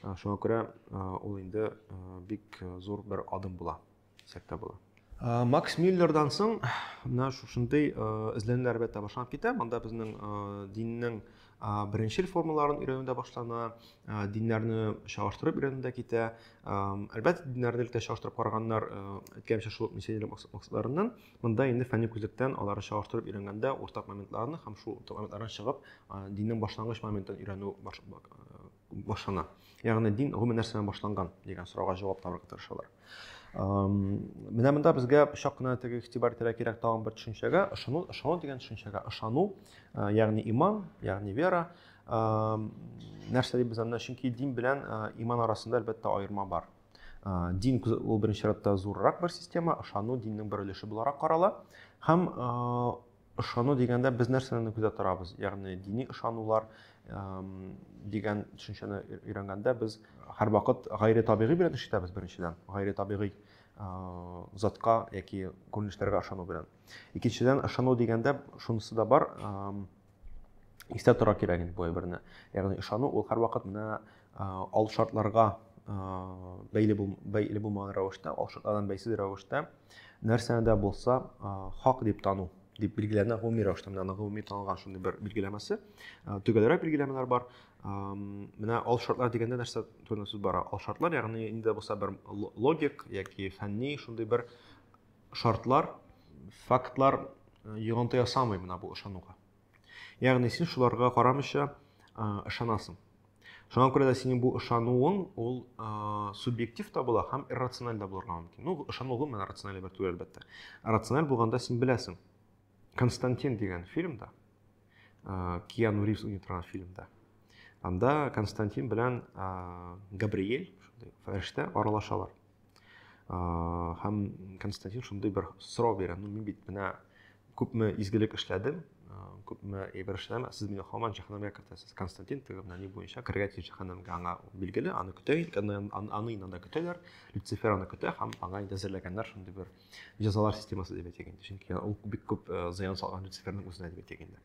Ә, шуңа күрә ә, ул инде ә, бик зур бер адым була, дисәк тә була. Ә, Макс Миллердан соң менә шушындый ә, эзләнүләр әлбәттә башланып китә. Монда безнең ә, диннең ә, беренчел формаларын өйрәнү дә башлана, ә, диннәрне чагыштырып өйрәнү дә китә. Ә, Әлбәттә, диннәрне өлкә чагыштырып караганнар, ә, әйткәнчә шул миссионер макс- максатларыннан Монда инде фәнни күзлектән алары чагыштырып өйрәнгәндә уртак моментларны һәм шул уртак моментлардан чыгып диннең башлангыч моментын өйрәнү башлана. Ягъни дин гомумән нәрсәдән башланган дигән сорауга җавап табарга тырышалар. Менә монда безгә чак кына теге игътибар итәргә кирәк тагын бер төшенчәгә, ышану, ышану дигән төшенчәгә, ышану, ягъни иман, ягъни вера. Нәрсә дип без анда, чөнки дин белән иман арасында әлбәттә аерма бар. Э, дин ул беренче чиратта зуррак бер система ышану диннең бер өлеше буларак карала һәм э, ышану дигәндә без нәрсәне күзәтә торабыз ягъни дини ышанулар дигән төшенчәне өйрәнгәндә без һәрвакыт гайре табигый белән эш итәбез беренчедән гайре табигый э, затка яки күренешләргә ышану белән икенчедән ышану дигәндә шунысы да бар истә тора кирәк инде бу әйберне. Ягъни ышану ул һәрвакыт менә ал шартларга бәйле бул бәйле булмаган рәвештә, ал шартлардан бәйсез рәвештә нәрсәне дә булса хак дип тану дип билгеләнә гомуми рәвештә менә аның гомуми танылган шундый бер билгеләмәсе. Төгәлрәк билгеләмәләр бар. Менә ал шартлар дигәндә нәрсә турында сүз бара? Ал шартлар, ягъни инде булса бер логик яки фәнни шундый бер шартлар, фактлар йогынты ясамый менә бу ышануга. Ягъни син шуларга карамыйча ышанасың. Шуңа күрә дә синең бу ышануың ул субъектив та була һәм иррациональ да булырга мөмкин. Ну, ышану гомумән рациональ бер түгел, әлбәттә. Рациональ булганда син беләсең. Константин дигән фильмда, Киану Ривз уйный торган фильмда, анда Константин белән Габриэль, фәрештә, аралашалар. һәм константин шундый бер сорау бирә ну мин бит менә күпме изгелек эшләдем күпме әйбер эшләдем сез мине һаман җәһәннәмгә кертәсез константин теге менә ни буенча керергә тиеш җәһәннәмгә аңа билгеле аны көтә аны инде анда көтәләр люцифер аны көтә һәм аңа инде әзерләгәннәр шундый бер җәзалар системасы дип әйтик инде чөнки ул бик күп зыян салган люциферның үзенә дип әйтик инде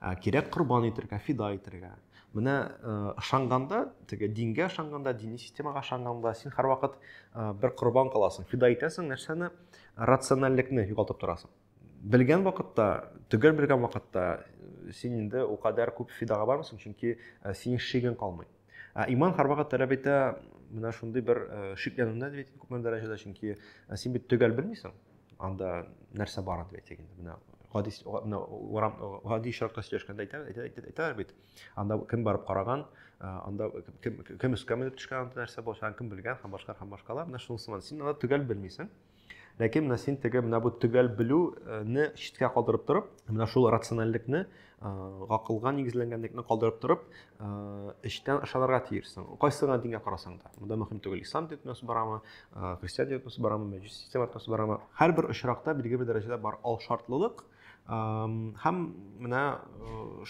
Ә кирәк корбан итергә, фида итергә. Менә ышанганда, теге дингә ышанганда, дини системага ышанганда, син һәрвакыт бер корбан каласың, фида итәсең, нәрсәне? Рациональлекне югалтып торасың. Белгән вакытта, төгәл белгән вакытта син инде укадәр күп фидага бармыйсың, чөнки синең шигең калмый. Ә иман һәрвакыт таләп итә менә шундый бер э, шикләнүне дип әйтик күпме дәрәҗәдә, чөнки э, син бит төгәл белмисең, анда нәрсә барын дип әйтик инде. Менә гади менә урам гади очракта сөйләшкәндә әйтә әйтә әйтә бит. Анда кем барып караган, э, анда кем кем өскә менеп төшкән, анда нәрсә булачагын кем белгән һәм башка һәм башкалар. Менә шунысы син анда төгәл белмисең. Ләкин менә син теге менә бу төгәл белүне читкә калдырып торып, менә шул рациональлекне, гакылга нигезләнгәнлекне калдырып торып, эчтән ышанырга тиешсең. Кайсы гына дингә карасаң да. Монда мөһим түгел, ислам диетмәсе барамы, христиан диетмәсе барамы, мәҗүси система диетмәсе барамы. Һәрбер очракта билгеле бер дәрәҗәдә бар ал шартлылык. Һәм менә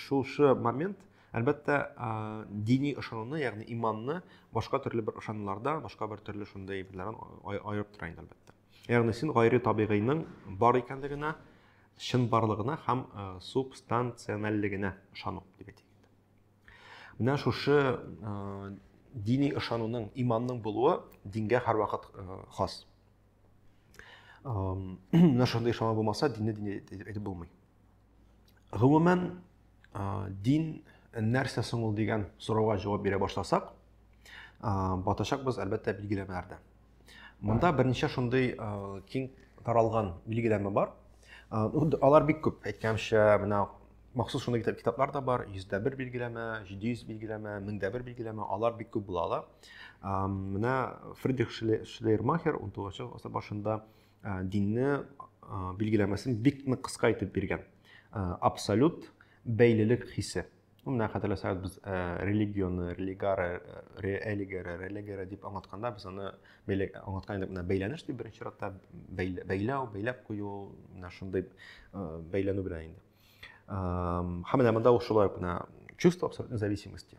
шушы момент Әлбәттә, дини ышануны, ягъни иманны башка төрле бер ышануларда, башка бер төрле шундый әйберләрдән аерып тора инде әлбәттә. Ягъни син гайре табигыйның бар икәнлегенә, чын барлыгына һәм субстанциональлегенә ышану дип әйтик. Менә шушы дини ышануның, иманның булуы дингә һәрвакыт хас. Менә шундый ышану булмаса, динне дин әйтеп булмый. Гомумән, дин нәрсә соң ул дигән сорауга җавап бирә башласак, батачакбыз әлбәттә билгеләмәләрдә. Монда берничә шундый киң таралган билгеләмә бар. Алар бик күп. Әйткәнчә, менә махсус шундый китаплар да бар, 101 билгеләмә, 700 билгеләмә, 1001 билгеләмә, алар бик күп була ала. Менә Фридрих Шлейермахер 19 гасыр башында динне билгеләмәсен бик нык кыска итеп биргән абсолют бәйлелек хисе менә хәтерләсәгез без религионы религары религары религары дип аңлатканда без аны аңлаткан идек менә бәйләнеш дип беренче чиратта бәйләү бәйләп кую менә шундый бәйләнү белән инде һәм менә монда ул шулай ук менә чувство абсолютной зависимости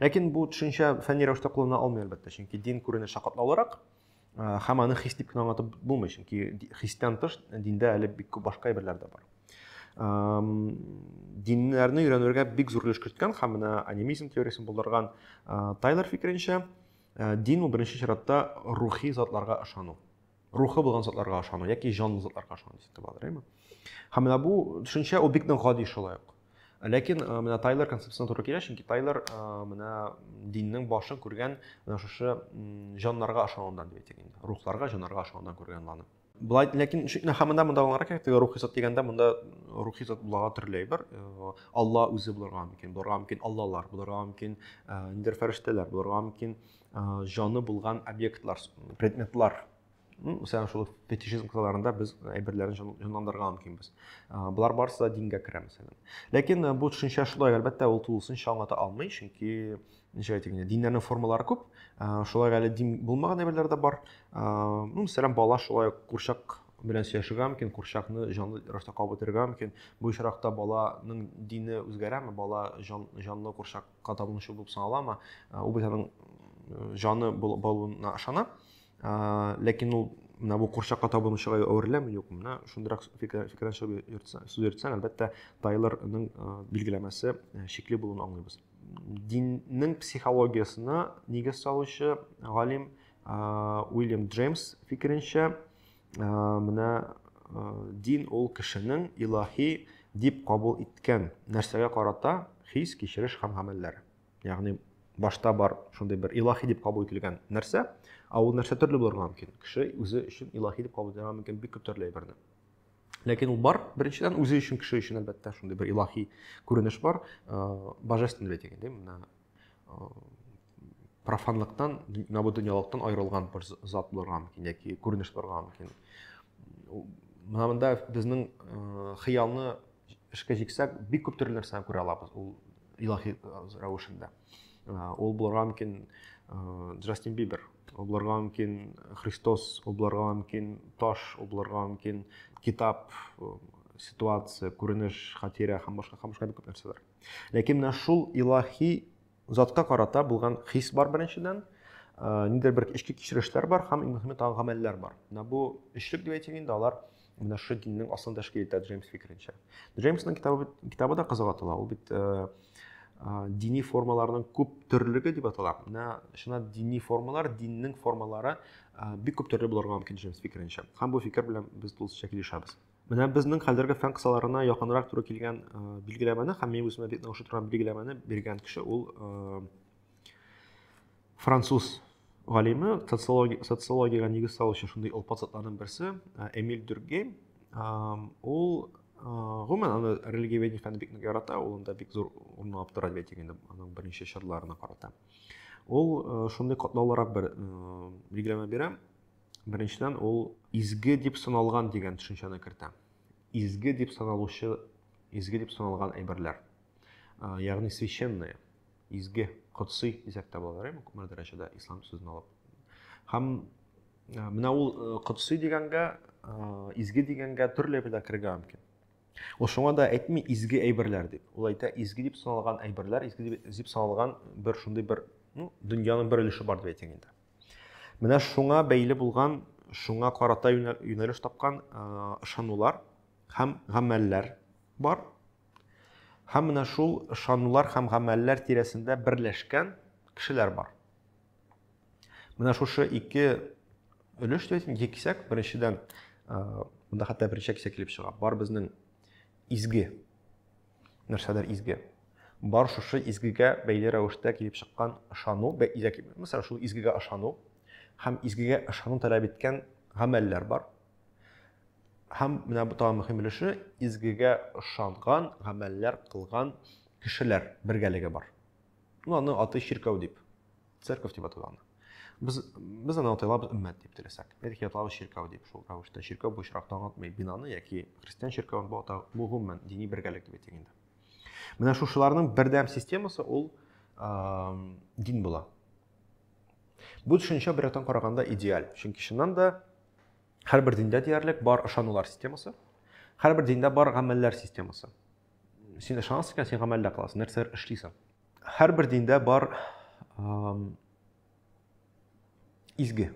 Ләкин бу төшенчә фәнни рәвештә куллана алмый, әлбәттә, чөнки дин күренеше катлаулырак һәм аны хис дип кенә аңлатып булмый, чөнки хистән тыш диндә әле бик күп башка әйберләр дә бар. Диннәрне өйрәнергә бик зур өлеш керткән һәм менә анимизм теориясен булдырган Тайлер фикеренчә, дин ул беренче чиратта рухи затларга ышану. рухы булган затларга ышану яки җанлы затларга ышану дип итеп алдырыймы һәм менә бу төшенчә ул бик нык гади шулай ук ләкин э, менә тайлер концепциясына туры килә чөнки тайлер э, менә диннең башын күргән менә шушы җаннарга ышанудан дип әйтик инде рухларга җаннарга ышанудан күргән ланы былай ләкин хәмендә монда аңларак кирәк теге рухи зат дигәндә монда рухи зат буларга төрле әйбер э, алла үзе булырга мөмкин булырга мөмкин аллалар булырга мөмкин ниндидер фәрештәләр булырга мөмкин җаны булган объектлар предметлар мәсәлән шул фетишизм кысаларында без әйберләрне җанландырырга мөмкинбез болар барысы да дингә керә мәсәлән ләкин бу төшенчә шулай әлбәттә ул тулысынча аңлата алмый чөнки ничек әйтик инде диннәрнең формалары күп шулай әле дин булмаган әйберләр дә бар ну мәсәлән бала шулай ук курчак белән сөйләшергә мөмкин курчакны җанлы рәвештә кабып үтерергә мөмкин бу очракта баланың дине үзгәрәме бала җан, җанлы курчак кан табуның шул булып санала ма ул бит аның җаны булуына ышана ләкин ул менә бу курчакка табынучыга әвереләме юкмы менә шундыйрак фикердән чыгып сүз йөртсәң әлбәттә тайлорның билгеләмәсе шикле булуын аңлыйбыз диннең психологиясына нигез салучы галим уильям джеймс фикеренчә менә дин ул кешенең илаһи дип кабул иткән нәрсәгә карата хис, кичереш һәм гамәлләр. Ягъни башта бар шундый бер илаһи дип кабул ителгән нәрсә, а ул нәрсә төрле булырга мөмкин. Кеше үзе өчен илаһи дип кабул итәргә мөмкин бик күп төрле әйберне. Ләкин ул бар, беренчедән үзе өчен кеше өчен әлбәттә шундый бер илаһи күренеш бар, божественный дигән, ди, менә профанлыктан, менә бу дөньялыктан аерылган бер зат булырга мөмкин яки күренеш булырга мөмкин. Менә монда безнең э, хыялны эшкә җиксәк, бик күп төрле нәрсәне күрә алабыз ул илаһи э, рәвешендә. Э, ул булырга мөмкин Джастин Бибер, ул булырга мөмкин Христос, ул булырга мөмкин таш, ул булырга мөмкин китап, ситуация, күренеш, хатирә һәм башка һәм башка күп нәрсәләр. Ләкин менә шул илаһи Затка карата булган хис бар беренчедән, нидер бер эчке кичерешләр бар һәм иң мөһиме тагын гамәлләр бар. Менә бу өчлек дип әйтим инде, алар менә шушы диннең аслын тәшкил итә Джеймс фикеренчә. Джеймсның китабы китабы да кызык атала. Ул бит дини формаларның күп төрлеге дип атала. Менә шуна дини формалар, диннең формалары бик күп төрле булырга мөмкин Джеймс фикеренчә. Һәм бу фикер белән без тулысынча килешәбез. Менә безнең хәзерге фән кысаларына якынрак туры килгән билгеләмәне һәм мин үземә бик ошый торган билгеләмәне биргән кеше ул француз галиме, социология, социологиягә нигез салучы шундый олпат затларның берсе Эмиль Дюргейм. Ул гомумән аны религиоведение фәнен бик нык ярата, ул анда бик зур урын алып тора дип әйтик инде аның берничә чырларына карата. Ул шундый катлаулырак бер билгеләмә бирә. Беренчедән, ул изге дип саналган дигән төшенчәне кертә. Изге дип саналучы, изге дип саналган әйберләр. Ягъни священные, изге, кодси дисәк тә була, әйме, күпмедер дәрәҗәдә ислам сүзен алып. Һәм менә ул кодси дигәнгә, изге дигәнгә төрле әйберләр керергә мөмкин. Ул шуңа да әйтми изге әйберләр дип. Ул әйтә изге дип саналган әйберләр, изге дип саналган бер шундый бер, ну, дөньяның бер өлеше бар дип әйтәм инде. Менә шуңа бәйле булган, шуңа карата юнәлеш тапкан ышанулар һәм гамәлләр бар. Һәм менә шул ышанулар һәм гамәлләр тирәсендә берләшкән кешеләр бар. Менә шушы ике өлеш дип әйтим, ике кисәк. Беренчедән, монда хәтта беренче кисәк килеп чыга. Бар безнең изге нәрсәдер изге. Бар шушы изгегә бәйле рәвештә килеп чыккан ышану, мәсәлән, шул изгегә ышану һәм изгегә ышану таләп иткән гамәлләр бар. Һәм менә бу тагын мөһим өлеше, изгегә ышанган, гамәлләр кылган кешеләр бергәлеге бар. Ну, аны аты чиркәү дип Церковь дип атала аны. Без без аны атайлабыз өммәт дип теләсәк. Әйтик, аталабыз чиркәү дип шул рәвештә. Чиркәү бу очракта аңлатмый бинаны яки христиан чиркәвен бу ата бу гомумән дини бергәлек дип әйтик инде. Менә шушыларның бердәм системасы ул дин була. Бу төшенчә бер яктан караганда идеаль. Чөнки чыннан да һәрбер диндә диярлек бар ышанулар системасы, һәрбер диндә бар гамәлләр системасы. Син ышанасың икән, син гамәлдә кыласың, нәрсәләр эшлисең. Һәрбер диндә бар изге.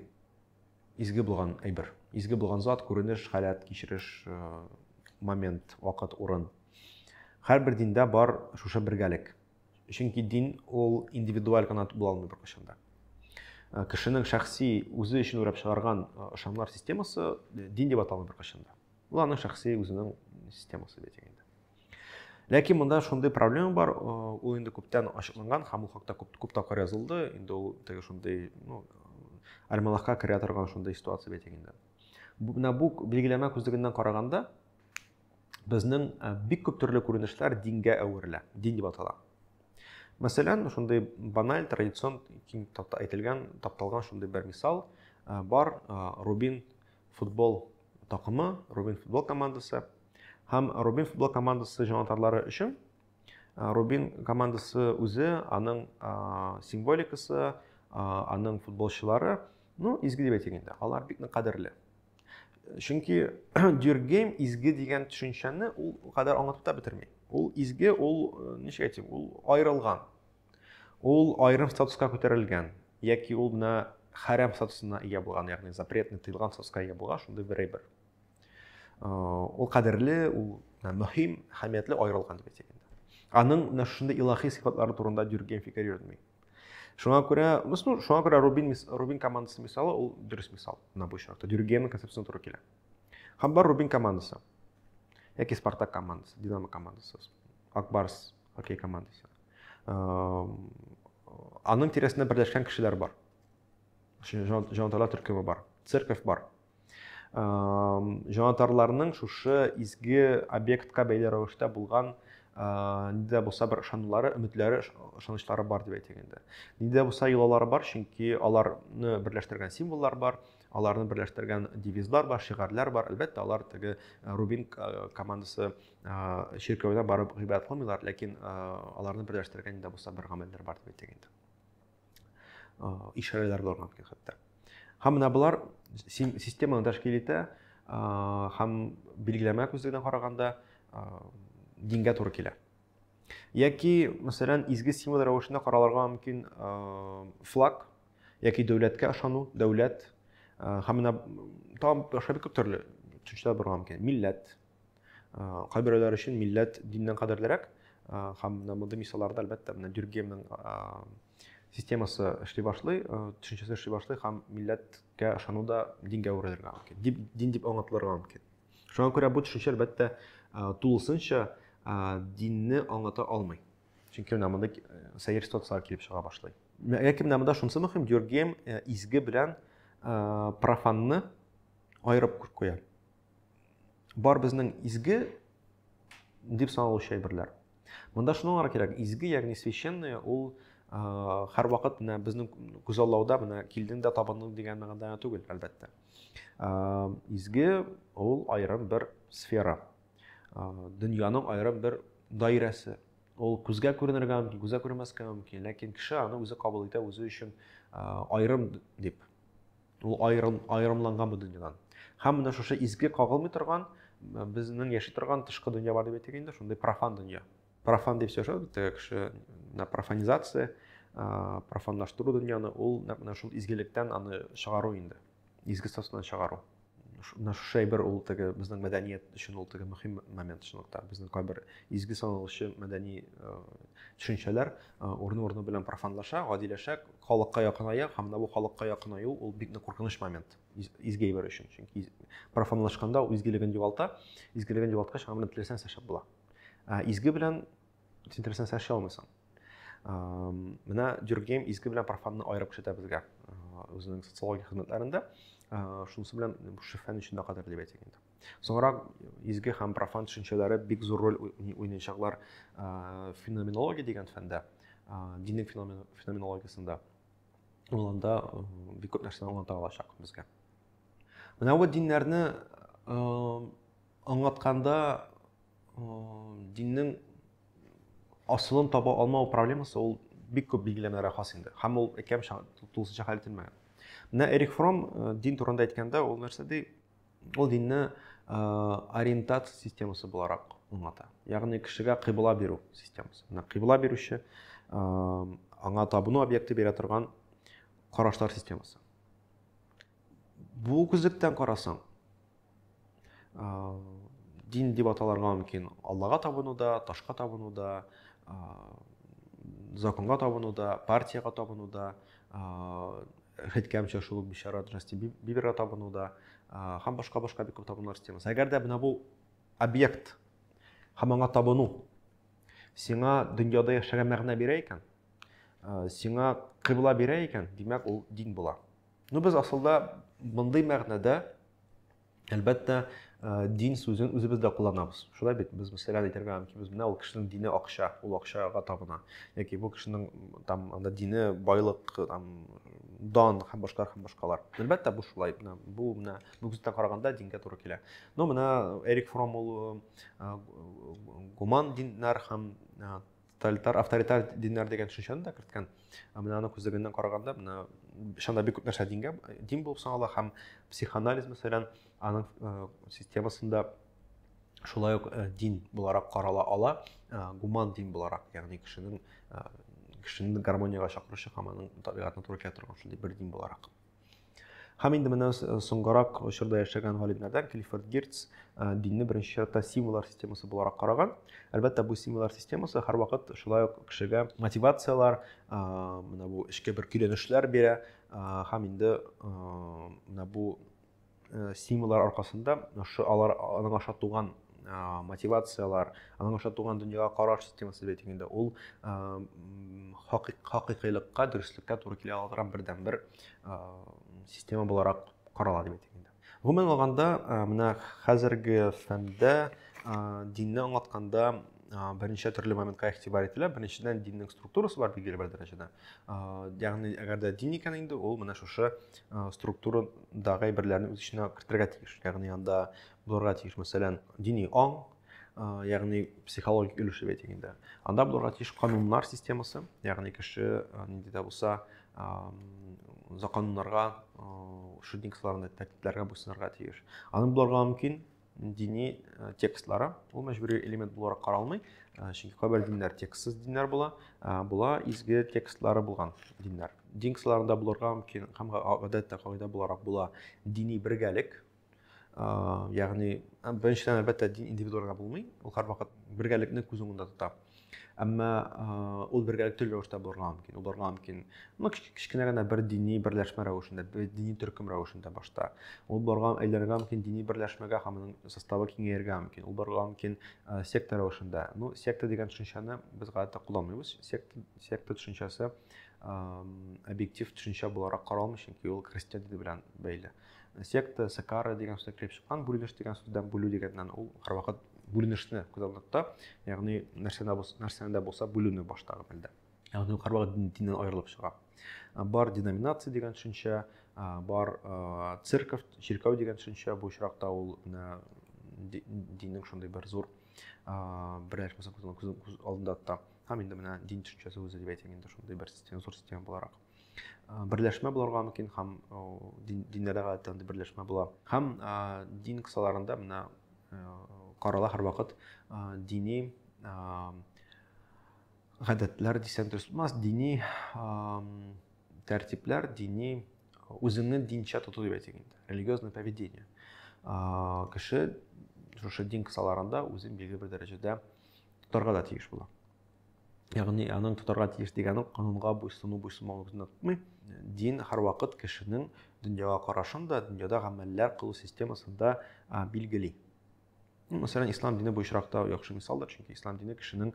Изге булган әйбер. Изге булган зат, күренеш, халәт, кичереш, момент, вакыт, урын. Һәрбер диндә бар шушы бергәлек. Чөнки дин ул индивидуаль гына була алмый беркайчан да. Э, кешенең шәхси үзе өчен уйлап чыгарган э, ышанмалар системасы э, дин дип аталмый беркайчан да ул аның шәхси үзенең системасы бит инде Ләкин монда шундый проблема бар, ул инде күптән ачыкланган һәм ул хакта күп, күп тапкыр язылды. Инде ул теге шундый, ну, альманахка керә торган шундый ситуация бит инде. Менә бу билгеләмә күзлегеннән караганда безнең бик күп төрле күренешләр дингә әверелә, дин дип атала. Мәсәлән, шундый баналь, традицион киң тапта әйтелгән, тапталган шундый бер мисал бар, Рубин футбол Такымы, Рубин футбол командасы. Һәм Рубин футбол командасы җанатарлары өчен Рубин командасы үзе, аның символикасы, аның футболчылары, ну, изге дип әйтик инде, алар бик нык кадерле. Чөнки Дюргейм изге дигән төшенчәне ул кадәр аңлатып та бетерми. Ул изге, ул ничек әйтим, ул аерылган. Ул аерым статуска күтәрелгән, яки ул менә хәрәм статусына ия булган, ягъни запретный, тыелган статуска ия булган шундый бер әйбер. Э, ул кадерле, ул мөһим, әһәмиятле аерылган дип әйтик инде. Аның менә шундый илаһи сыйфатлары турында дөрген фикер йөртми. Шуңа күрә, ну, шуңа күрә Рубин, Рубин командасы мисалы, ул дөрес мисал на бу очракта. Дөргенның концепциясенә туры килә. Һәм бар Рубин командасы. Яки Спартак командасы, Динамо командасы, Акбарс Хоккей командасы. Аның тирәсендә берләшкән кешеләр бар. Җанатарлар төркеме бар, церковь бар. Җанатарларның шушы изге объектка бәйле рәвештә булган нидә булса бер ышанулары, өметләре, ышанычлары бар дип әйтик инде. Нидә булса йолалары бар, чөнки аларны берләштергән символлар бар, аларны берләштергән девизлар бар, шигарләр бар. Әлбәттә, алар теге Рубин командасы чиркәүдә барып гыйбадәт кылмыйлар, ләкин аларны берләштергән дә булса бер гамәлләр бар дип әйтик инде. Ишарәләр булырга мөмкин хәтта. Һәм менә болар системаны тәшкил итә һәм билгеләмә күзлегенә караганда дингә туры килә. Яки, мәсәлән, изге символ рәвешендә каралырга мөмкин флаг, яки дәүләткә ышану, дәүләт һәм менә тагын башка бик күп төрле төшенчәләр булырга мөмкин. Милләт, кайберәүләр өчен милләт диннән кадерлерәк һәм менә мондый мисалларда әлбәттә менә дюргемның системасы эшли башлый төшенчәсе эшли башлый һәм милләткә ышану да дингә әверелергә мөмкин дип дин дип аңлатылырга мөмкин шуңа күрә бу төшенчә әлбәттә тулысынча динне аңлата алмый чөнки менә монда сәер ситуациялар килеп чыга башлый ләкин менә монда шунысы мөһим дюргем изге белән профанны аерып куя бар безнең изге дип саналучы әйберләр. Монда шуны аңларга кирәк, изге, ягъни священные, ул һәрвакыт менә безнең күзаллауда менә килдең дә табындың дигән мәгънәдә түгел, әлбәттә. Изге ул аерым бер сфера. Дөньяның аерым бер даирәсе. Ул күзгә күренергә мөмкин, күзгә күренмәскә мөмкин, ләкин кеше аны үзе кабул итә, үзе өчен аерым дип Ул аерым, аерымланган бу дөньядан. Һәм менә шушы изге кагылмый торган, безнең яши торган тышкы дөнья бар дип әйтик инде, шундый профан дөнья. Профан дип сөйләшә бит кеше, на профанизация, профанлаштыру дөньяны, ул менә шул изгелектән аны чыгару инде. Изге статусыннан чыгару. Менә шушы әйбер ул теге безнең мәдәният өчен ул теге мөһим момент чынлыкта. Безнең кайбер изге саналучы мәдәни төшенчәләр урыны-урыны белән профанлаша, гадиләшә, халыкка якыная һәм менә бу халыкка якынаю ул бик нык куркыныч момент изге әйбер өчен чөнки профанлашканда ул изгелеген югалта изгелеген югалткач аңа белән теләсәң нәрсә була ә изге белән син теләсәң нәрсә эшли алмыйсың менә дюргейм изге белән профанны аерып күрсәтә безгә үзенең социология хезмәтләрендә шунысы белән шифаның өчен дә кадерле дип әйтик инде Соңрак изге һәм профан төшенчәләре бик зур роль уйнаячаклар феноменология дигән фәндә, диннең феноменологиясендә. Ул анда бик күп нәрсәне аңлата алачак безгә. Менә бу диннәрне аңлатканда диннең асылын таба алмау проблемасы ул бик күп билгеләмәләргә хас инде. Һәм ул әкәм тулысынча хәл ителмәгән. Менә Эрик Фром дин турында әйткәндә ул нәрсә ди? Ул динне э, ориентация системасы буларак аңлата. Ягъни кешегә кыйбла бирү системасы. Менә кыйбла бирүче э, аңа табыну объекты бирә торган карашлар системасы. Бу күзлектән карасаң, э, дин дип аталарга мөмкин Аллага табыну да, ташка табыну да, законга табыну да, партияга табыну да, әйткәнемчә шул ук бичара Джастин Биберга табыну да һәм башка башка бик күп табынулар системасы. Әгәр дә менә бу объект һәм аңа табыну сиңа дөньяда яшәргә мәгънә бирә икән, сиңа кыйбла бирә икән, димәк ул дин була. Ну без асылда мондый мәгънәдә Әлбәттә, дин сүзен үзебез дә кулланабыз. Шулай бит, без мәсәлән әйтергә мөмкинбез, менә ул кешенең дине акча, ул акчага табына. Яки бу кешенең там анда дине байлык, там дан һәм башкалар һәм башкалар. Әлбәттә, бу шулай. Менә бу менә бүгенге караганда дингә туры килә. Но менә Эрик Фром ул гуман диннәр һәм тоталитар авторитар диннәр дигән төшенчәне дә керткән менә аның күзлегеннән караганда менә шунда бик күп нәрсә дингә дин булып санала һәм психоанализ мәсәлән аның э, системасында шулай ук э, дин буларак карала ала э, гуман дин буларак ягъни кешенең кешене гармониягә чакыручы һәм аның табигатына туры килә торган шундый бер дин буларак Һәм инде менә э, соңгарак очырда яшәгән галимнәрдән Клиффорд Гирц э, динне беренче чиратта символлар системасы буларак караган. Әлбәттә, бу символлар системасы һәрвакыт шулай ук кешегә мотивацияләр, э, менә бу эчке бер көйләнешләр бирә һәм инде менә бу Э, стимуллар аркасында ошо алар аның аша туган мотивациялар аның аша туган дөньяга караш системасы дип әйтик инде ул хакыйкыйлыкка дөреслеккә туры килә ала торган бердән бер система буларак карала дип әйтик инде гомумән алганда менә хәзерге фәндә динне аңлатканда берничә төрле моментка игътибар ителә беренчедән диннең структурасы бар билгеле бер дәрәҗәдә ягъни әгәр дә дин икән инде ул менә шушы структурадагы әйберләрне үз эченә кертергә тиеш ягъни анда булырга тиеш мәсәлән дини аң ягъни психологик өлеш дип әйтик инде анда булырга тиеш кануннар системасы ягъни кеше нинди дә булса законнарга шудниксларны тәртипләргә буйсынырга тиеш аның булырга мөмкин дини э, текстлары ул мәҗбүри элемент буларак каралмый э, чөнки кайбер диннәр текстсыз диннәр була э, була изге текстлары булган диннәр дин кысаларында булырга мөмкин һәм гадәттә кагыйдә буларак була дини бергәлек ягъни беренчедән әлбәттә дин индивидуалга булмый ул һәрвакыт бергәлекне күз уңында тота әмма ул бергәләп төрле рәвештә булырга мөмкин ул барырга мөмкин ну кечкенә генә бер дини берләшмә рәвешендә бер дини төркем рәвешендә башта ул барырга әйләнергә мөмкин дини берләшмәгә һәм аның составы киңәяргә мөмкин ул барырга мөмкин секта рәвешендә ну секта дигән төшенчәне без гадәттә кулланмыйбыз секта, секта төшенчәсе объектив төшенчә буларак каралмый чөнки ул христиан дини белән бәйле секта сакара деген сүздән килеп чыккан бүленеш деген сүздән бүлү дигәннән ул һәрвакыт бүленешне күз алдында тота ягъни нәрсәдә нәрсәне дә булса бүлүне баштагы мәлдә ягъни ул һәрвакыт диннән аерылып чыга бар деноминация дигән төшенчә бар церковь чиркәү дигән төшенчә бу очракта ул менә диннең шундый бер зур бер нәрсәсен күз алдында тота һәм инде менә дин төшенчәсе үзе дип әйтим инде шундый бер зур система буларак берләшмә булырга мөмкин һәм диннәрдә гадәттә андый берләшмә була һәм дин кысаларында менә карала һәрвакыт дини гадәтләр дисәң дөрес булмас дини тәртипләр дини үзеңне динчә тоту дип әйтик инде религиозное поведение кеше шушы дин кысаларында үзен билгеле бер дәрәҗәдә тотарга да тиеш була ягъни аның тотарга тиеш дигән канунга буйсыну буйсынмауны ныгытмый дин һәрвакыт кешенең дөньяга карашын да дөньяда гамәлләр кылу системасын да билгели мәсәлән ислам дине бу очракта яхшы мисалдыр чөнки ислам дине кешенең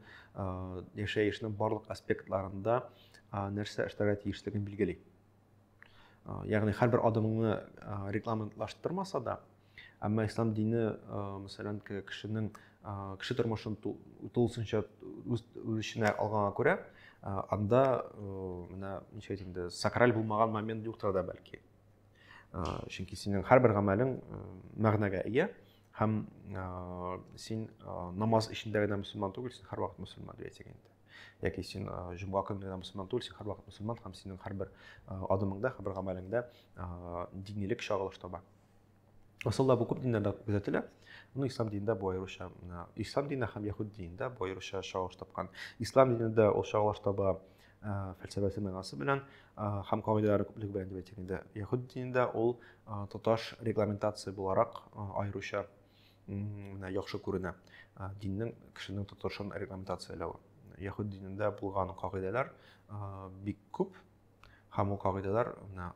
яшәешнең барлык аспектларында нәрсә эшләргә тиешлеген билгели ягъни һәрбер адымыңны рекламалаштырмаса да әмма ислам дине мәсәлән кешенең кеше тормышын тулысынча үз эченә алганга күрә анда менә ничә инде сакраль булмаган момент юктыр да бәлки чөнки синең һәрбер гамәлең мәгънәгә ия һәм син намаз эчендә генә мөселман түгел син һәрвакыт мөселман дип әйтсәк инде яки син җомга көнне генә мөселман түгел син һәрвакыт мөселман һәм синең һәрбер адымыңда һәрбер гамәлеңдә динилек чагылыш таба асылда бу күп диннәрдә күзәтелә ну ислам динендә бу аеруча ислам дине һәм яһүд динендә бу аеруча чагылыш тапкан ислам динендә ул чагылыш таба фәлсәфәсе мәгънәсе белән һәм кагыйдәләре күплеге белән дип әйтик инде яһүд динендә ул тоташ регламентация буларак аеруча яхшы күренә диннең кешенең тотышын регламентацияләве яһүд динендә булган кагыйдәләр бик күп һәм ул кагыйдәләр менә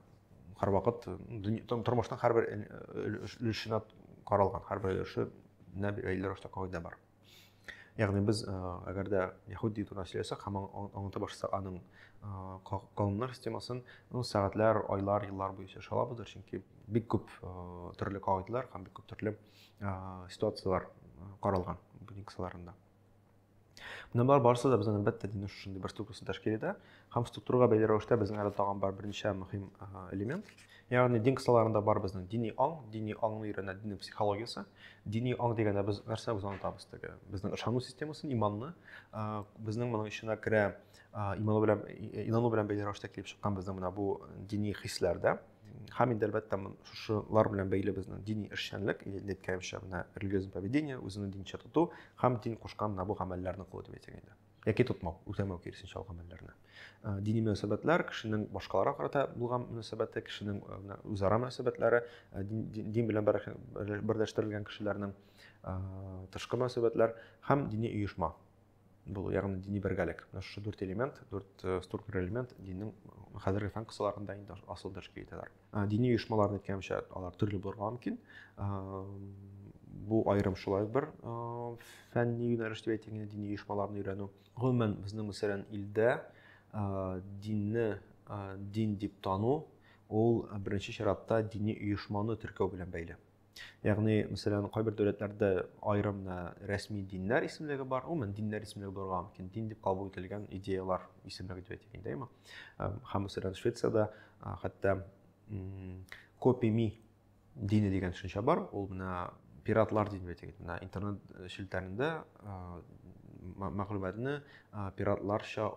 һәрвакыт тормышның һәрбер өлешенә каралган һәрбер өлешенә бәйле рәвештә кагыйдә бар яғни біз әгәр дә яһүди турында сөйләсәк һәм аңлата башласак аның кавымнар системасын ну сәгатьләр айлар еллар буе сөйләшә алабыздыр чөнки бик күп төрле кагыйдәләр һәм бик күп төрле ситуацияләр каралган бу кысаларында менә болар барысы да безнең әлбәттә диннең шушындый бер структурасы тәшкил итә Һәм структурага бәйле рәвештә безнең әле тагын бар берничә мөһим элемент. Ягъни дин кысаларында бар безнең дини аң, дини аңны өйрәнә диннең психологиясе. Дини аң дигәндә без нәрсә без онытабыз теге. Безнең ышану системасын, иманны. Безнең моның эченә керә иману белән инану белән бәйле рәвештә килеп чыккан безнең менә бу дини хисләр дә. Һәм инде әлбәттә шушылар белән бәйле безнең дини эшчәнлек, әйткәнемчә, менә религиозное поведение, үзеңне динчә тоту һәм дин кушкан менә бу гамәлләрне кылу дип әйтсәк инде. яки тотмау, үтәмәү киресенчә алган мәлләрне. Э, дини мөнәсәбәтләр, кешенең башкаларга карата булган мөнәсәбәте, кешенең э, үзара мөнәсәбәтләре, э, дин белән берләштерелгән кешеләрнең тышкы мөнәсәбәтләр һәм дини оешма булу, ягъни дини бергәлек. Менә шушы дүрт элемент, дүрт структура элемент диннең хәзерге фән кысаларында инде асыл тәшкил итәләр. Ә, дини оешмаларны әйткәнемчә, алар төрле булырга мөмкин. Ә, бу аерым шулай бер ә, фәнни юнәлеш дип әйтелгән дини оешмаларны өйрәнү. Гомумән безнең мәсәлән илдә ә, динне ә, дин дип тану ул беренче чиратта дини оешманы теркәү белән бәйле. Ягъни, мәсәлән, кайбер дәүләтләрдә аерым рәсми диннәр исемлеге бар. Гомумән, диннәр исемлеге булырга мөмкин. Дин дип кабул ителгән идеялар исемлеге дип әйтик инде, әйме? Һәм, мәсәлән, Швециядә хәтта копими дине дигән төшенчә бар. Ул менә пиратлар дип әйтик. Менә интернет э, челтәрендә мәгълүматны пиратларча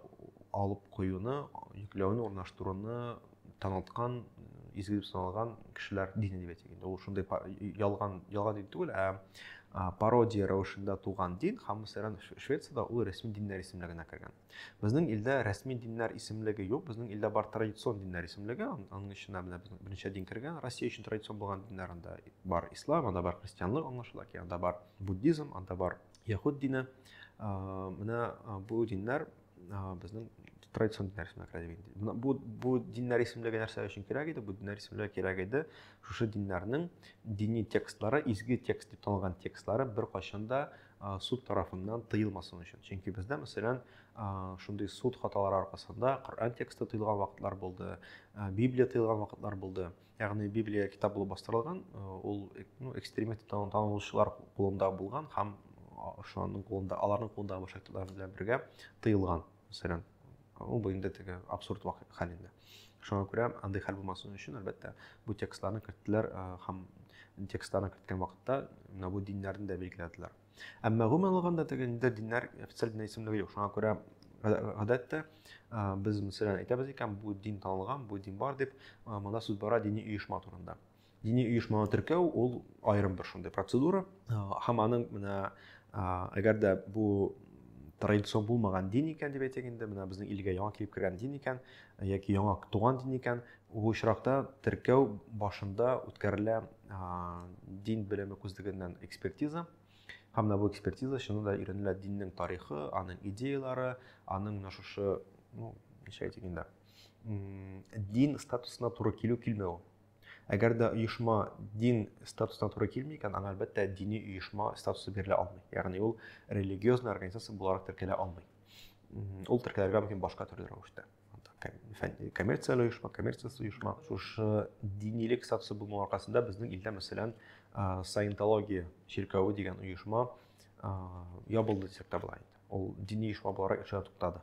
алып куюны, йөкләүне, урнаштыруны танылткан изге дип саналган кешеләр дины дип әйтик инде ул шундый ялган ялган дин түгел ә пародия рәвешендә туган дин һәм мәсәлән швецияда ул рәсми диннәр исемлегенә кергән безнең илдә рәсми диннәр исемлеге юк безнең илдә бар традицион диннәр исемлеге аның эченә менә безнең беренче дин кергән россия өчен традицион булган диннәр анда бар ислам анда бар христианлык аңлашыла ки анда бар буддизм анда бар яхуд дине менә бу диннәр безнең традицион диннәр исемлеге кирәк иде. Бу, бу, бу диннәр исемлеге нәрсә өчен кирәк иде? Бу диннәр исемлеге кирәк иде. Шушы диннәрнең дини текстлары, изге текст дип танылган текстлары бер кайчан да суд тарафыннан тыелмасын өчен. Чөнки бездә, мәсәлән, шундый суд хаталары аркасында Коръән тексты тыелган вакытлар булды, Библия тыелган вакытлар булды. ягъни библия китап булып бастырылган ул ну, экстремист танылучылар кулында булган һәм шуның кулында аларның кулындагы башка китаплар белән бергә тыелган мәсәлән ул бу инде теге абсурд хәл инде шуңа күрә андый хәл булмасын өчен әлбәттә бу текстларны керттеләр һәм текстларны керткән вакытта менә бу диннәрне дә билгеләделәр Әмма гомумән алганда теге инде диннәр официаль дин исемлеге юк. Шуңа күрә гадәттә без мәсәлән әйтәбез икән, бу дин танылган, бу дин бар дип, монда сүз бара дини оешма турында. Дини оешманы теркәү ул аерым бер шундый процедура. Һәм аның менә әгәр дә бу традицион булмаган дин икән дип әйтик инде, менә безнең илгә яңа килеп кергән дин икән, яки яңа туган дин икән, Бу очракта теркәү башында үткәрелә дин белеме күзлегеннән экспертиза. Һәм менә бу экспертиза чынында да өйрәнелә диннең тарихы, аның идеялары, аның менә шушы, ну, ничә әйтик инде, дин статусына туры килү килмәү. Әгәр дә оешма дин статусына туры килми икән, аңа әлбәттә дини оешма статусы бирелә алмый. Ягъни ул религиозный организация буларак теркәлә алмый. Ул теркәлергә мөмкин башка төрле рәвештә. коммерцияле оешма, коммерциясез оешма. Шушы динилек статусы булуның аркасында безнең илдә, мәсәлән, саентология чиркәве дигән оешма ябылды дисәк тә була инде. Ул дини оешма буларак эшенә туктады.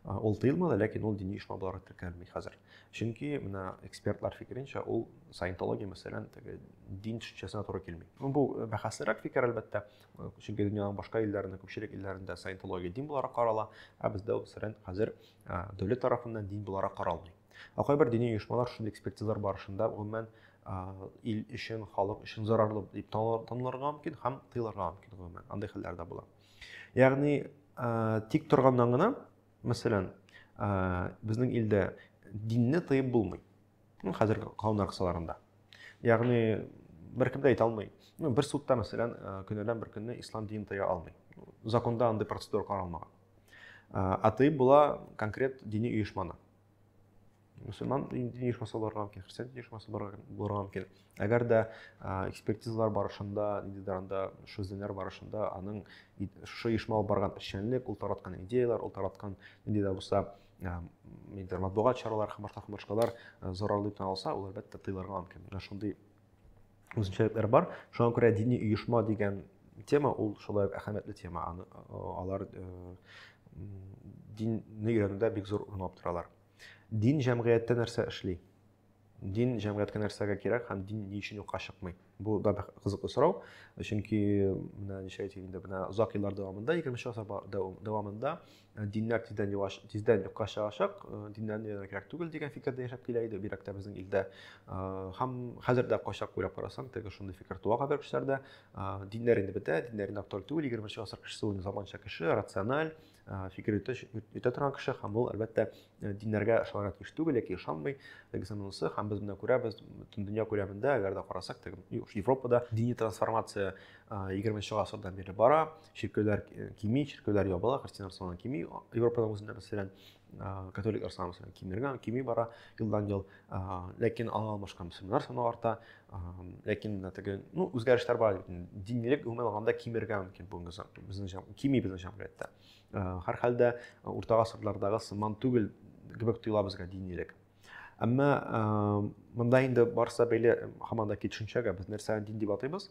Ул тыелмады, ләкин ул дини оешма буларак теркәлми хәзер. Чөнки менә экспертлар фикеренчә, ул саентология мәсәлән, теге дин төшенчәсенә туры килми. Бу бәхәслерәк фикер, әлбәттә. чөнки дөньяның башка илләрендә күпчелек илләрендә саентология дин буларак карала ә бездә ул сөрән хәзер дәүләт тарафыннан дин буларак каралмый ә кайбер дини оешмалар шундый экспертизалар барышында гомумән ил өчен халык өчен зарарлы дип танылырга мөмкин һәм тыелырга мөмкин гомумән андый хәлләр дә була ягъни тик торганнан гына мәсәлән безнең илдә динне тыеп булмый Хәзерге канун аркасаларында. Ягъни беркем дә әйтә алмый. Ну, бер судта, мәсәлән, көнәдән бер көнне ислам динен тыя алмый. Законда андый процедура каралмаган. Ә тыйып була конкрет дини оешманы. Мөселман дини оешмасы булырга мөмкин, христиан дини оешмасы булырга мөмкин. Әгәр дә экспертизалар барышында, ниндидер анда шүзләнер барышында аның шушы оешма алып барган эшчәнлек, ул тараткан идеялар, ул тараткан нинди дә булса нидер матбугат чаралары һәм башка һәм башкалар зарарлы дип алса ул әлбәттә тыйлырга мөмкин менә шундый үзенчәлекләр бар шуңа күрә дини оешма дигән тема ул шулай ук әһәмиятле тема аны алар динне өйрәнүдә бик зур урын алып торалар дин җәмгыятьтә нәрсә эшли дин җәмгыятькә нәрсәгә кирәк һәм дин ни өчен юкка чыкмый? Бу да бик кызыклы сорау. Чөнки менә ничә әйтик инде, менә озак еллар дәвамында, 20 гасыр дәвамында э, диннәр тиздән юаш, тиздән юкка чыгачак, э, диннәр дә кирәк түгел дигән фикердә яшәп килә иде, бирәк тә безнең илдә. Э, һәм хәзер дә кайчак уйлап карасаң, теге шундый фикер туа хәзер кешеләрдә. Диннәр инде бетә, диннәр инде актуаль түгел, 20 гасыр кешесе ул заманча кеше, рациональ, фикер йөртә, йөртә торган кеше һәм ул әлбәттә диннәргә ышанырга тиеш түгел яки ышанмый тегесе монысы һәм без менә күрәбез бөтен дөнья күләмендә әгәр дә карасак европада дини трансформация егерменче гасырдан бирле бара чиркәүләр кими чиркәүләр ябыла христианнар саны кими европаның үзендә мәсәлән католиклар саны мәсәлән кимергән кими бара елдан ел ләкин аңа алмашкан мөселманнар саны арта ләкин менә теге ну үзгәрешләр бар динилек гомумән алганда кимергә мөмкин бүгенге безнең кими безнең җәмгыятьтә һәр хәлдә урта гасырлардагы сыман түгел кебек тоела безгә динилек әмма монда инде барысы да бәйле һаман да төшенчәгә без нәрсәне дин дип атыйбыз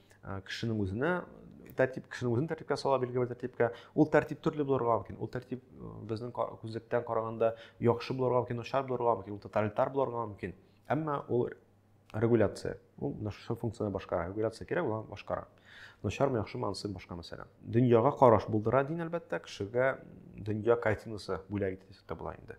кешенең үзенә тәртип кешенең үзен тәртипкә сала билгеле бер тәртипкә ул тәртип төрле булырга мөмкин ул тәртип безнең күзлектән караганда яхшы булырга мөмкин начар булырга мөмкин ул тоталитар булырга мөмкин әмма ул регуляция ул менә шушы функцияне башкара регуляция кирәк ул башкара начармы яхшымы анысы башка мәсьәлә дөньяга караш булдыра дин әлбәттә кешегә дөнья картинасы бүләк итә дисәк тә була инде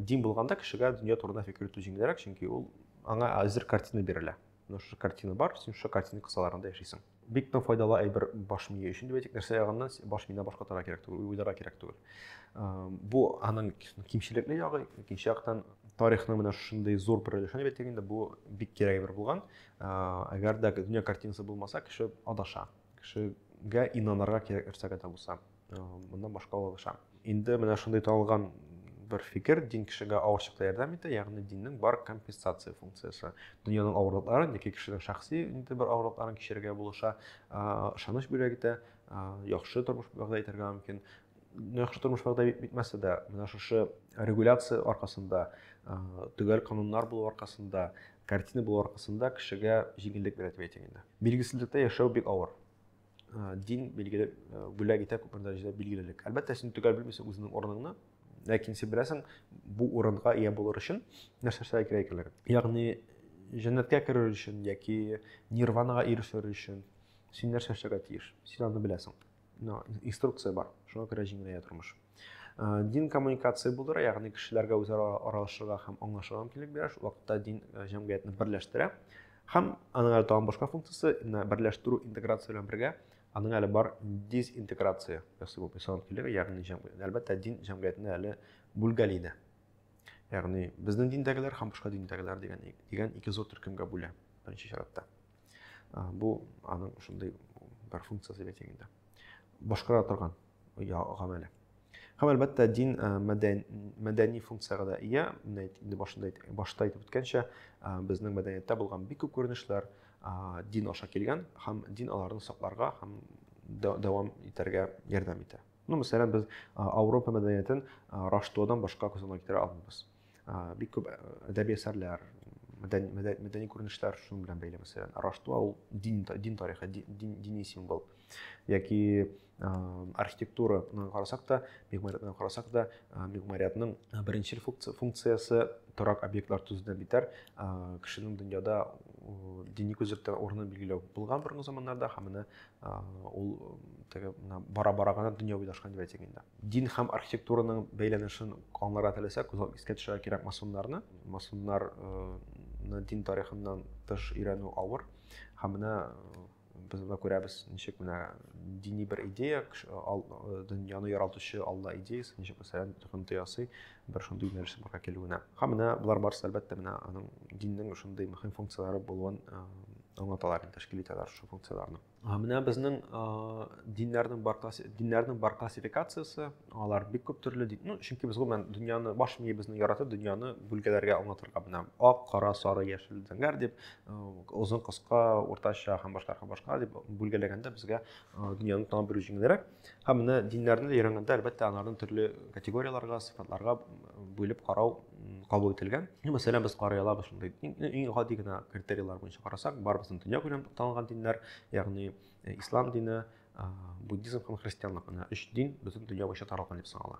дин булганда кешегә дөнья турында фикер йөртү җиңелрәк чөнки ул аңа әзер картина бирелә Менә шушы картина бар, син шушы картина кысаларында яшисең. Бик тә файдалы әйбер баш мие өчен дип әйтик, нәрсә ягыннан баш миенә башка тара кирәк түгел, уйлара кирәк түгел. Бу аның кимчелекле ягы, икенче яктан тарихның менә шушындый зур бер өлешен дип әйтик инде, бу бик кирәк әйбер булган. Әгәр дә дөнья картинасы булмаса, кеше адаша. Кешегә инанырга кирәк нәрсәгә дә булса. моннан башка ала алышам инде менә шундый танылган бер фикер дин кешегә авыр чакта ярдәм итә ягъни диннең бар компенсация функциясе дөньяның авырлыкларын яки кешенең шәхси инде бер авырлыкларын кичерергә булыша ышаныч бүләк итә яхшы тормыш вәгъдә итәргә мөмкин яхшы тормыш вәгъдә итмәсә дә менә шушы регуляция аркасында төгәл кануннар булу аркасында картина булу аркасында кешегә җиңеллек бирә дип әйтим инде билгесезлектә яшәү бик авыр ә, дин билгеле бүләк итә күпмедер дәрәҗәдә билгелелек әлбәттә син төгәл белмисең үзеңнең урыныңны ләкин син беләсең бу урынга ия булыр өчен нәрсә эшләргә кирәк икәнлеген ягъни җәннәткә керер өчен яки нирванага ирешер өчен син нәрсә эшләргә тиеш син аны беләсең инструкция бар шуңа күрә җиңеләя тормыш Э, дин коммуникация булдыра ягъни кешеләргә үзара аралашырга һәм аңлашырга мөмкинлек бирә шул вакытта дин э, җәмгыятьне берләштерә һәм аның әле тагын башка функциясе менә берләштерү интеграция белән бергә аның әле бар дезинтеграция ясый бу ислам мөмкинлеге ягъни җәмгыять әлбәттә дин җәмгыятьне әле бүлгәли дә ягъни безнең диндәгеләр һәм башка диндәгеләр дигән дигән ике зур төркемгә бүлә беренче чиратта э, бу аның шундый бер функциясе бит инде башкара торган гамәле. Һәм әлбәттә дин мәдәни функциягә дә ия. Менә инде башында башта әйтеп үткәнчә, безнең мәдәнияттә булган бик күп күренешләр дин аша килгән һәм дин аларны сакларга һәм дәвам итәргә ярдәм итә. Ну, мәсәлән, без Ауропа мәдәниятен Раштодан башка күзаллана китерә алмыйбыз. бик күп әдәби әсәрләр мәдәни күренешләр шуның белән бәйле мәсәлән раштуа ул дин дин тарихы дини символ яки архитектураны карасак та мигмариятны карасак та мигмариятның беренчел функциясе торак объектлар төзүдән битәр кешенең дөньяда дини күзлектән урынын билгеләү булган борынгы заманнарда һәм менә ул теге бара бара гына дөнья уйлашкан дип әйтик инде дин һәм архитектураның бәйләнешен аңларга теләсәк күз искә төшерә кирәк масоннарны масоннарны дин тарихыннан тыш өйрәнү авыр һәм менә без анда күрәбез ничек менә дини бер идея дөньяны яралтучы алла идеясы ничек мәсәлән токымты ясый бер шундый юнәлешнең бара килүенә һәм менә болар барысы әлбәттә менә аның диннең шундый мөһим функцияләре булуын аңлаталар тәшкил итәләр шул функцияләрне менә безнең диннәрнең бар диннәрнең бар классификациясе алар бик күп төрле дин ну чөнки без гомумән дөньяны баш миебезне яратып дөньяны бүлгәләргә аңлатырга менә ак кара сары яшел зәңгәр дип озын кыска уртача һәм башка һәм башка дип бүлгәләгәндә безгә дөньяны танып белү җиңелрәк Һәм менә диннәрне өйрәнгәндә, әлбәттә, аларны төрле категорияләргә, сыйфатларга бүлеп карау кабул ителгән. Ну, мәсәлән, без карый алабыз шундый иң гади генә критерийлар буенча карасак, барыбызның дөнья күләм танылган диннәр, ягъни э, ислам дине, э, буддизм һәм христианлык менә өч дин бөтен дөнья буенча таралган дип санала.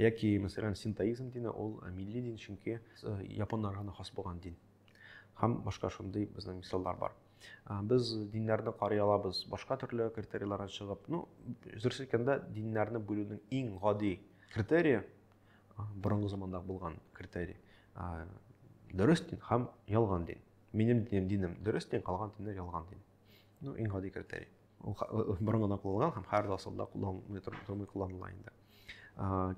Яки, мәсәлән, синтоизм дине, ул э, милли дин, чөнки э, японнарга гына хас булган дин. Һәм башка шундый безнең мисаллар бар. Э, без диннәрне карый алабыз башка төрле критерийлардан чыгып. Ну, дөрес әйткәндә, диннәрне бүлүнең иң гади критерии борынгы заманда булган критерий. Дөрес дин һәм ялган дин. Минем динем, динем дөрес дин, калган диннәр ялган дин. Ну, иң гади критерий. ул борын гына кулланган һәм хәзер асылда кулланмый тормый кулланыла инде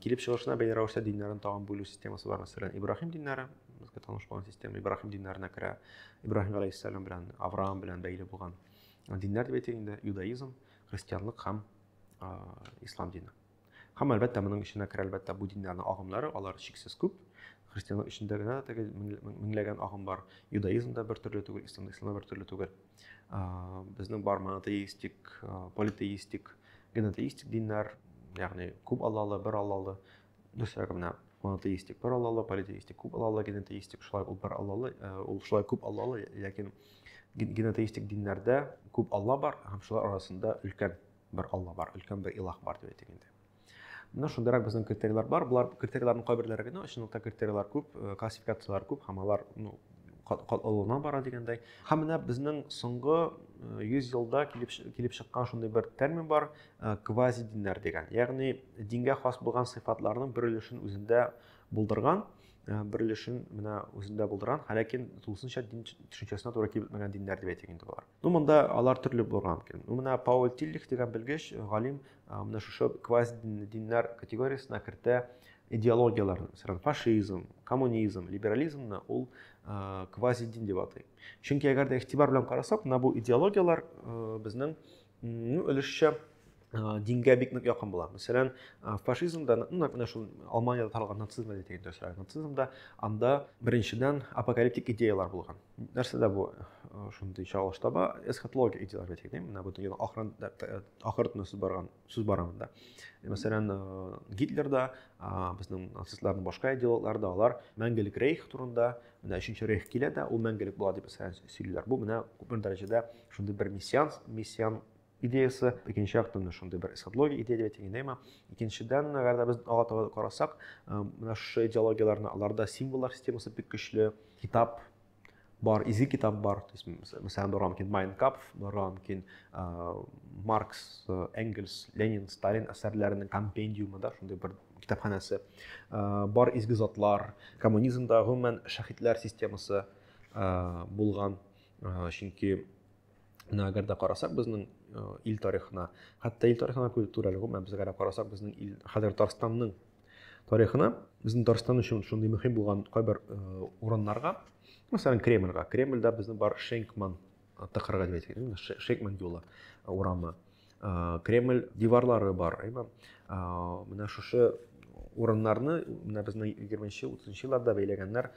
килеп чыгышына бәйле рәвештә диннәрен тагын бүлү системасы бар мәсәлән ибраһим диннәре безгә таныш булган система ибраһим диннәренә керә ибраһим галәйһиссәлам белән авраам белән бәйле булган диннәр дип әйтик инде иудаизм христианлык һәм ислам дине Һәм әлбәттә моның эченә керә әлбәттә бу диннәрнең агымнары, алар чиксез күп. Христианлык эчендә генә теге меңләгән агым бар. Иудаизм да бер төрле түгел, ислам ислам бер төрле түгел. Безнең бар монотеистик, политеистик, генотеистик диннәр, ягъни күп аллалы, бер аллалы, дөресрәге менә монотеистик бер аллалы, политеистик күп аллалы, генотеистик шулай ул бер аллалы, ул шулай күп аллалы, ләкин генотеистик диннәрдә күп алла бар һәм шулар арасында өлкән Бер Алла бар, өлкән бер илаһ бар дип әйтик инде. Менә шундыйрак безнең критерийлар бар. Болар критерийларның кайберләре генә чынлыкта критерийлар күп, э, классификацияләр күп һәм алар ну катлаулана бара дигәндәй. Һәм менә безнең соңгы 100 э, елда килеп килеп чыккан шундый бер термин бар, э, квази диннәр дигән. Ягъни дингә хас булган сыйфатларның бер өлешен үзендә булдырган Э, бер өлешен менә үзендә булдырган һәләкин тулысынча дин төшенчәсенә туры килеп бетмәгән диннәр дип әйтик инде болар Ну, монда алар төрле булган икән. Ну, менә Пауль Тиллих дигән белгеч, э, галим, э, менә шушы квази диннәр категориясенә кертә идеологияләрне. Мәсәлән, фашизм, коммунизм, либерализмны ул э, квази дин дип атый. Чөнки әгәр дә игътибар белән карасак, менә бу идеологияләр безнең ну, өлешчә дингә бик нык якын була мәсәлән фашизмда нәкъ менә шул алманиядә таралган нацизмда әйтик дөресрәк нацизмда анда беренчедән апокалиптик идеялар булган нәрсәдә бу шундый чагылыш таба эсхатология идеялар әйтик ди менә бу дөньяда ахырын ахыр сүз барган сүз бар анда мәсәлән гитлерда безнең нацистларның башка идеологлары да алар мәңгелек рейх турында менә өченче рейх килә дә ул мәңгелек була дип сөйлиләр бу менә күпмедер дәрәҗәдә шундый бер мессиан мессиан идеясы, икенче яктан да шундый бер эсхатология идея дип әйтәйме. Икенчедән, әгәр дә без ага таба карасак, э, менә шушы идеологияләрне аларда символлар системасы бик көчле, китап бар, изге китап бар, то есть, мәсәлән, булырга мөмкин Майнкапф, булырга мөмкин э, Маркс, э, Энгельс, Ленин, Сталин әсәрләренең компендиумы да, шундый бер китапханәсе. Бар изге затлар, коммунизмда гомумән шәһитләр системасы булган, чөнки Менә әгәр дә карасак безнең э, ил тарихына, хәтта ил тарихына күреп турәле гомумән без әгәр карасак безнең ил хәзер Татарстанның тарихына, безнең Татарстан өчен шундый мөһим булган кайбер э, урыннарга, мәсәлән, Кремльгә. Кремльдә безнең бар Шенкман э, тыкырга дип әйтелгән, Шенкман юлы урамы. кремль диварлары бар әйме менә шушы урыннарны менә безнең егерменче утызынчы елларда бәйләгәннәр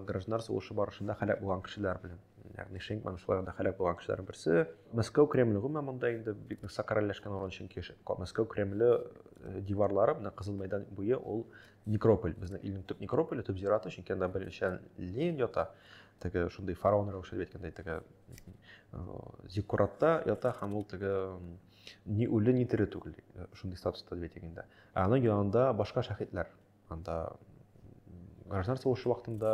гражданнар сугышы барышында һәлак булган кешеләр белән ягъни шенгман шуларда һәлак булган кешеләрнең берсе мәскәү кремле гомумән монда инде бик нык сакралләшкән урын чөнки мәскәү кремле э, диварлары менә кызыл мәйдан буе ул некрополь безнең илнең төп некрополе төп зираты чөнки анда беренчедән ленин ята теге шундый фараон рәвешендә әйткәндәй теге зиккуратта ята һәм ул теге ни үле ни тере түгел э, шундый статуста дип әйтик инде ә аның янында башка шәһитләр анда граждан сугышы вакытында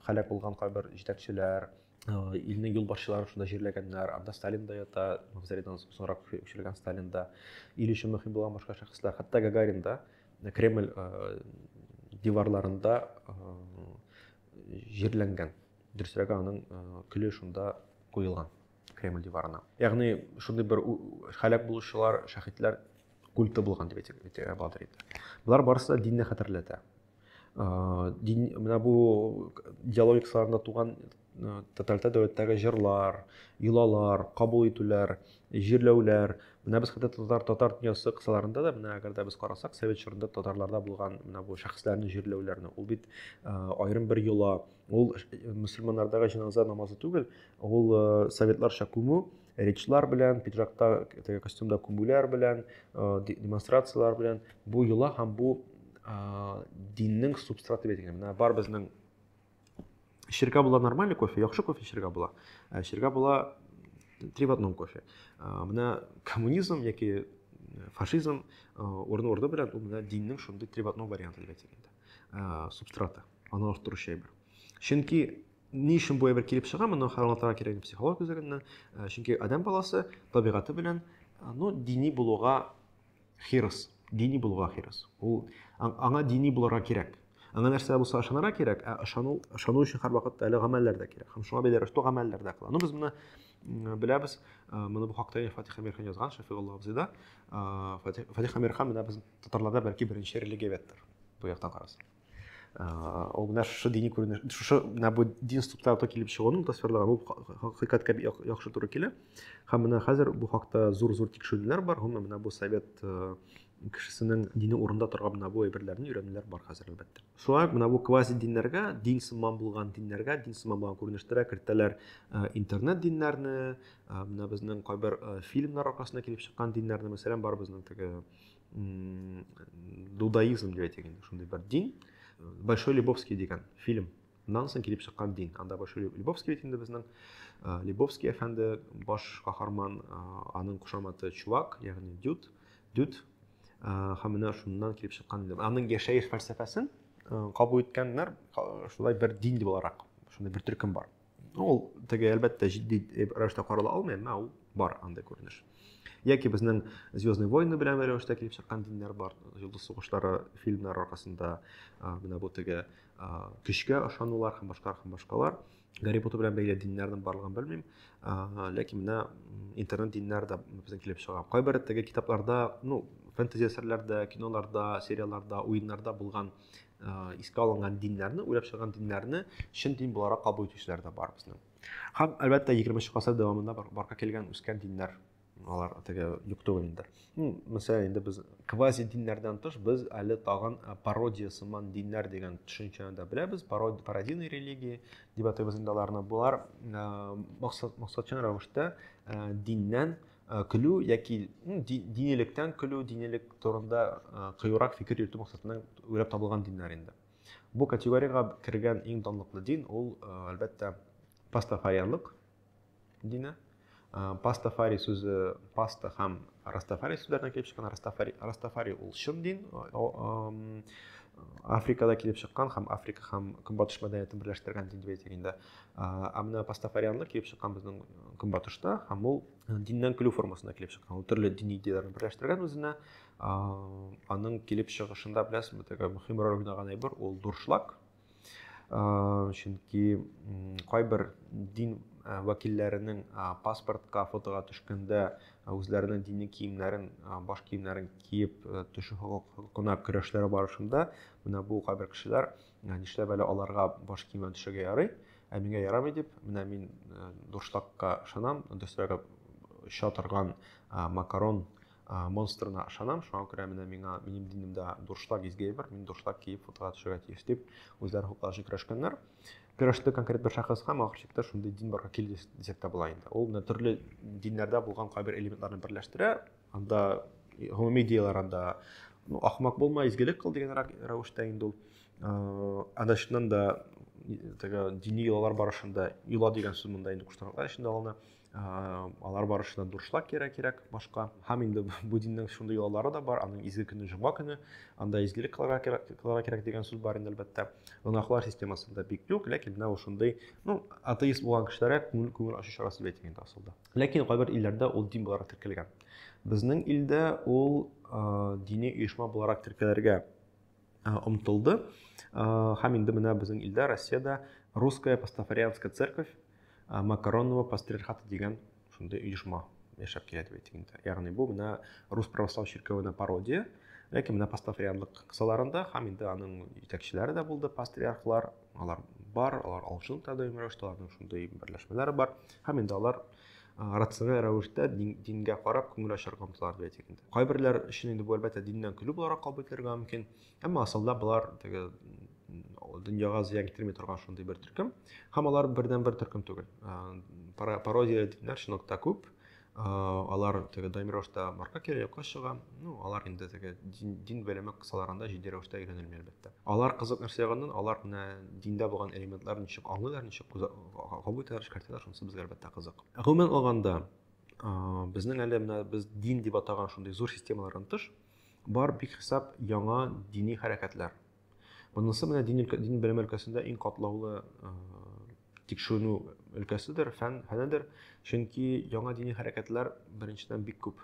һәлак булган кайбер җитәкчеләр э, илнең юлбашчыларын шунда җирләгәннәр анда сталин да ята мавзолейдан соңрак күчерелгән сталин да ил өчен мөһим булган башка шәхесләр хәтта гагарин да э, кремль диварларында җирләнгән Дөресрәге аның көле шунда куелган Кремль диварына. Ягъни шундый бер халәк булучылар, шәхитләр культы булган дип әйтергә буладыр инде. Болар барысы да динне хәтерләтә. Дин менә бу диалогик сарында туган тоталитар дәүләттәге җырлар, йолалар, кабул итүләр, җирләүләр. Менә без хәтта татар татар дөньясы кысаларында да менә әгәр дә без карасак, совет чорында татарларда булган менә бу шәхесләрне җирләүләрне. Ул бит аерым бер йола, Ул мөселманнардагы җеназа намазы түгел, ул советларча күмү, речлар белән, пиджакта, костюмда күмүләр белән, демонстрацияләр белән бу йола һәм бу диннең субстраты бит икән. Менә бар безнең эчергә була нормальный кофе, яхшы кофе эчергә була. Ә эчергә була три в одном кофе. Менә коммунизм яки фашизм урын-урды белән ул менә диннең шундый три в одном варианты дип әйтсәк инде. Субстраты. аны арттыручы әйбер чөнки ни өчен бу әйбер килеп чыга моны аңлатырга кирәкми психолог үзлегеннән э, чөнки адәм баласы табигате белән э, ну дини булуга хирыс дини булуга хирыс ул аңа дини булырга кирәк аңа нәрсә булса ышанырга кирәк ә ышану ышану өчен һәрвакытта әле гамәлләр дә кирәк һәм шуңа бәйле рәвештә гамәлләр дә кыла ну без моны беләбез моны бу хакта фатих әмирхан язган шәфигулла абзый да фатих әмирхан менә безнең татарларда бәлки беренче религия беттер бу яктан карасаң Э, ул менә шушы дини күренеш шушы менә бу дин структураларда килеп чыгуның тасвирланган ул хакыйкатькә яхшы туры килә һәм менә хәзер бу хакта зур зур тикшерүләр бар гомумән менә бу совет э, кешесенең дине урында торган менә бу әйберләрне өйрәнүләр бар хәзер әлбәттә шулай менә бу квази диннәргә дин сыман булган диннәргә дин сыман булган күренештәргә кертәләр э, интернет диннәрне менә безнең кайбер фильмнар аркасында килеп чыккан диннәрне мәсәлән бар безнең теге дудаизм деп әйтик инде шундый бер дин большой лебовский деген фильм Нан соң килеп чыккан дин анда большой лебовский бит инде безнең лебовский әфәнде баш каһарман аның кушаматы чувак ягъни дюд дюд һәм менә шуннан килеп чыккан аның яшәеш фәлсәфәсен кабул иткәннәр шулай бер дин буларак шундай бер төркем бар Ул теге әлбәттә җитди рәвештә карала алмый, әмма ул бар андый күренеш. Яки безнең Звездный войны белән рәвештә килеп чыккан диннәр бар. Йолдыз сугышлары фильмнар аркасында менә бу теге көчкә ышанулар һәм башка һәм башкалар. Гарри Поттер белән бәйле диннәрнең барлыгын белмим. Ләкин менә интернет диннәр дә безнең килеп чыга. Кайбер теге китапларда, ну, фэнтези әсәрләрдә, киноларда, сериалларда, уеннарда булган искә алынган диннәрне уйлап чыган диннәрне чын дин буларак кабул итүчеләр дә бар безнең һәм әлбәттә егерменче гасыр дәвамында барга килгән үскән диннәр алар теге юк түгел инде мәсәлән инде без квази диннәрдән тыш без әле тагын пародия сыман диннәр дигән төшенчәне дә беләбез пародийный религии дип атыйбыз инде аларны болар максатчан рәвештә диннән Э, көлү яки динилектән көлү динилек турында э, кыюрак фикер йөртү максатыннан уйлап табылган диннәр инде бу категориягә кергән иң данлыклы дин ул э, әлбәттә пастафарианлык дине пастафари сүзе паста һәм растафари сүзләреннән килеп чыккан растафари растафари ул чын дин африкада килеп чыккан һәм африка һәм көнбатыш мәдәниятен берләштергән дин дип әйтик инде ә менә пастафарианлар килеп чыккан безнең көнбатышта һәм ул диннән көлү формасында килеп чыккан ул төрле дини идеяләрне берләштергән үзенә аның килеп чыгышында беләсезме теге мөһим роль уйнаган әйбер ул дуршлаг чөнки кайбер дин вәкилләренең паспортка фотога төшкәндә үзләренең дини киемнәрен баш киемнәрен киеп төшү хокукына көрәшләре барышында менә бу кайбер кешеләр Ә нишләп әле аларга баш киемен төшергә ярый, ә миңа ярамый дип, менә мин э, дуршлакка ышанам, дөресрәге оча торган э, макарон э, монстрына ышанам, шуңа күрә менә миңа минем динемдә дуршлак изге әйбер, мин дуршлак киеп фотога төшергә тиеш дип үзләре хуплашы көрәшкәннәр. Көрәште конкрет бер шәхес һәм ахыр чиктә шундый дин барга килде дисәк тә була инде. Ул менә төрле диннәрдә булган кайбер элементларны берләштерә, анда гомуми идеялар анда ну ахмак булма изгелек кыл дигән рәвештә инде ул э, анда чыннан да теге дини йолалар барышында йола дигән сүз монда инде куштанлыклар эчендә алына э, алар барышында дуршлак кирәк кирәк башка һәм инде бу диннең шундый йолалары да бар аның изге көне җомга көне анда изгелек кылырга кирәк кылырга кирәк дигән сүз бар инде әлбәттә гөнаһлар системасында бик юк ләкин менә ул шундый ну атеист булган кешеләргә күңел күңел ачу чарасы дип әйтик инде асылда Ләкин кайбер илләрдә ул дин буларак теркәлгән. Безнең илдә ул дини оешма буларак теркәлергә омтылды. Һәм инде менә безнең илдә, Россиядә Русская пастафарианская церковь Макаронова пастриархата дигән шундый оешма яшәп килә дип әйтик инде. Ягъни бу менә Рус православ чиркәвенә пародия, ләкин менә пастафарианлык кысаларында һәм инде аның җитәкчеләре дә булды пастриархлар, алар бар алар алжын да даими рәвештә аларның шундый берләшмәләре бар һәм инде алар рациональ рәвештә дингә карап күңел ачарга омтылалар дип әйтик инде кайберләр өчен инде бу әлбәттә диннән көлү буларак кабул ителергә мөмкин әмма асылда болар теге дөньяга зыян китерми торган шундый бер төркем һәм алар бердән бер төркем түгел пародия диннәр чынлыкта күп алар теге даими рәвештә марка кире якка чыга ну алар инде теге дин, дин белеме кысаларында җитди рәвештә өйрәнелми әлбәттә алар кызык нәрсә ягыннан алар менә диндә булган элементлар ничек аңлыйлар ничек кабул итәләр эшкәртәләр шунысы безгә әлбәттә кызык гомумән алганда безнең әле менә без дин дип атаган шундый зур системалардан тыш бар бик хисап яңа дини хәрәкәтләр Монысы менә дин, өлкә, дин белем өлкәсендә иң катлаулы э, тикшеренү өлкәседер, фән, фәнедер. Чөнки яңа дини хәрәкәтләр беренчедән бик күп.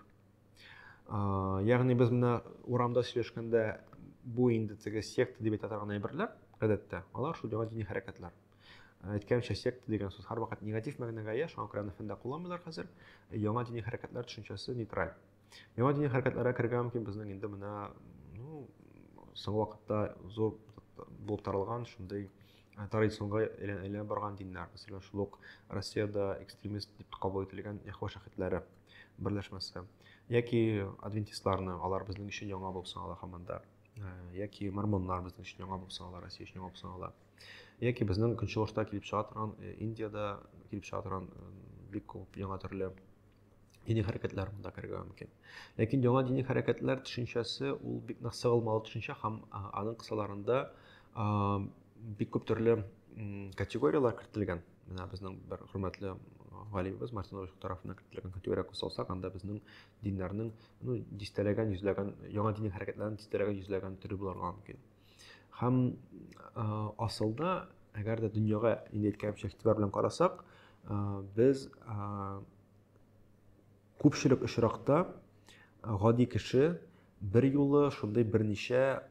Э, ягъни без менә урамда сөйләшкәндә бу инде теге секта дип әйтә торган әйберләр, гадәттә, алар шул яңа дини хәрәкәтләр. Э, әйткәнчә, секта дигән сүз һәрвакыт негатив мәгънәгә ия, шуңа күрә аны фәндә кулланмыйлар хәзер. Яңа дини хәрәкәтләр төшенчәсе нейтраль. Миңа дини хәрәкәтләргә керергә мөмкин безнең инде менә ну, соңгы вакытта зур булып таралган шундый э, традиционга әйләнеп барган диннәр. Мәсәлән, шул ук Россиядә экстремист дип кабул ителгән Яхва шаһитләре берләшмәсе. Яки адвентистларны, алар безнең өчен яңа булып санала һаман да. Э, яки мормоннар безнең өчен яңа булып санала, Россия өчен яңа булып санала. Яки безнең көнчыгышта килеп чыга торган, э, Индиядә килеп чыга торган бик күп яңа төрле дини хәрәкәтләр монда керергә мөмкин. Ләкин яңа дини хәрәкәтләр төшенчәсе ул бик нык сыгылмалы төшенчә һәм аның кысаларында бик күп төрле категорияләр кертелгән. Менә безнең бер хөрмәтле галимебез Мартин Ройх тарафыннан кертелгән категория кысалсак, анда безнең диннәрнең ну дистәләгән, йөзләгән яңа дини хәрәкәтләрнең дистәләгән, йөзләгән төре булырга мөмкин. Һәм асылда, әгәр дә дөньяга инде әйткәнчә игътибар белән карасак, без күпчелек очракта гади кеше бер юлы шундый берничә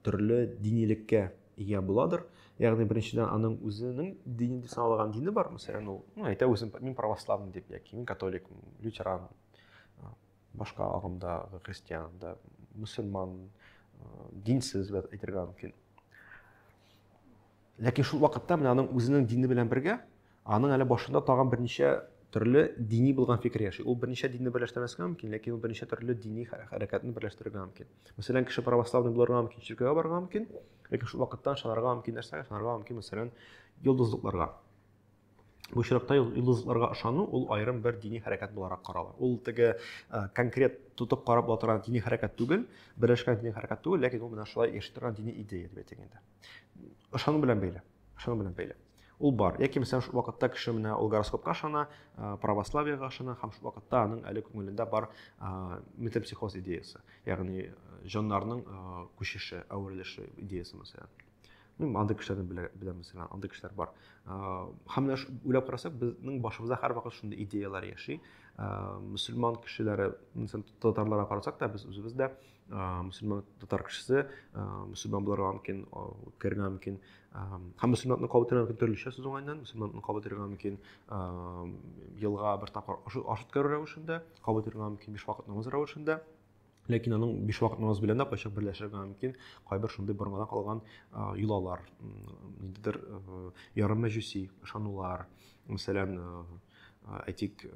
төрле динилеккә ия буладыр. Ягъни беренчедән аның үзенең дине дип саналган дине бар, мәсәлән, ул, ну, әйтә үзен, мин православный дип, яки мин католик, лютеран, башка агымдагы христиан да мөселман динсез дип әйтергә мөмкин ләкин шул вакытта менә аның үзенең дине белән бергә аның әле башында тагын берничә төрле дини булган фикер яши ул берничә динне берләштермәскә мөмкин ләкин ул берничә төрле дини хәрәкәтне берләштерергә мөмкин мәсәлән кеше православный булырга мөмкин чиркәүгә барырга мөмкин ләкин шул вакытта ышанырга мөмкин нәрсәгә ышанырга мөмкин мәсәлән йолдызлыкларга Бу очракта йолдызларга ышану ул аерым бер дини хәрәкәт буларак карала. Ул теге конкрет тотып карап була торган дини хәрәкәт түгел, берләшкән дини хәрәкәт түгел, ләкин ул менә шулай яши торган дини идея дип әйтик инде. Ышану белән бәйле. Ышану белән бәйле. Ул бар. Яки мисән шул вакытта кеше менә ул гороскопка ышана, православиега ышана һәм шул вакытта аның әле күңелендә бар метапсихоз идеясе, ягъни җаннарның күчеше, әверелеше идеясе мәсәлән. Ну, андый кешеләрне белә, беләбез, андый кешеләр бар. Һәм менә уйлап карасак, безнең башыбызда һәрвакыт шундый идеяләр яши. Мөселман кешеләре, мисал татарларга карасак та, без үзебез дә мөселман татар кешесе, мөселман буларга мөмкин, үткәрергә мөмкин. Һәм мөселманны кабул итәргә мөмкин төрлечә сүз уңайыннан, мөселманны кабул итәргә мөмкин елга бер тапкыр аш үткәрү рәвешендә, кабул итәргә мөмкин биш вакыт намаз рәвешендә. ләкин аның биш вакыт намаз белән дә кайчак берләшергә мөмкин кайбер шундый борынгыдан калган йолалар ниндидер ярым мәҗүси ышанулар мәсәлән әйтик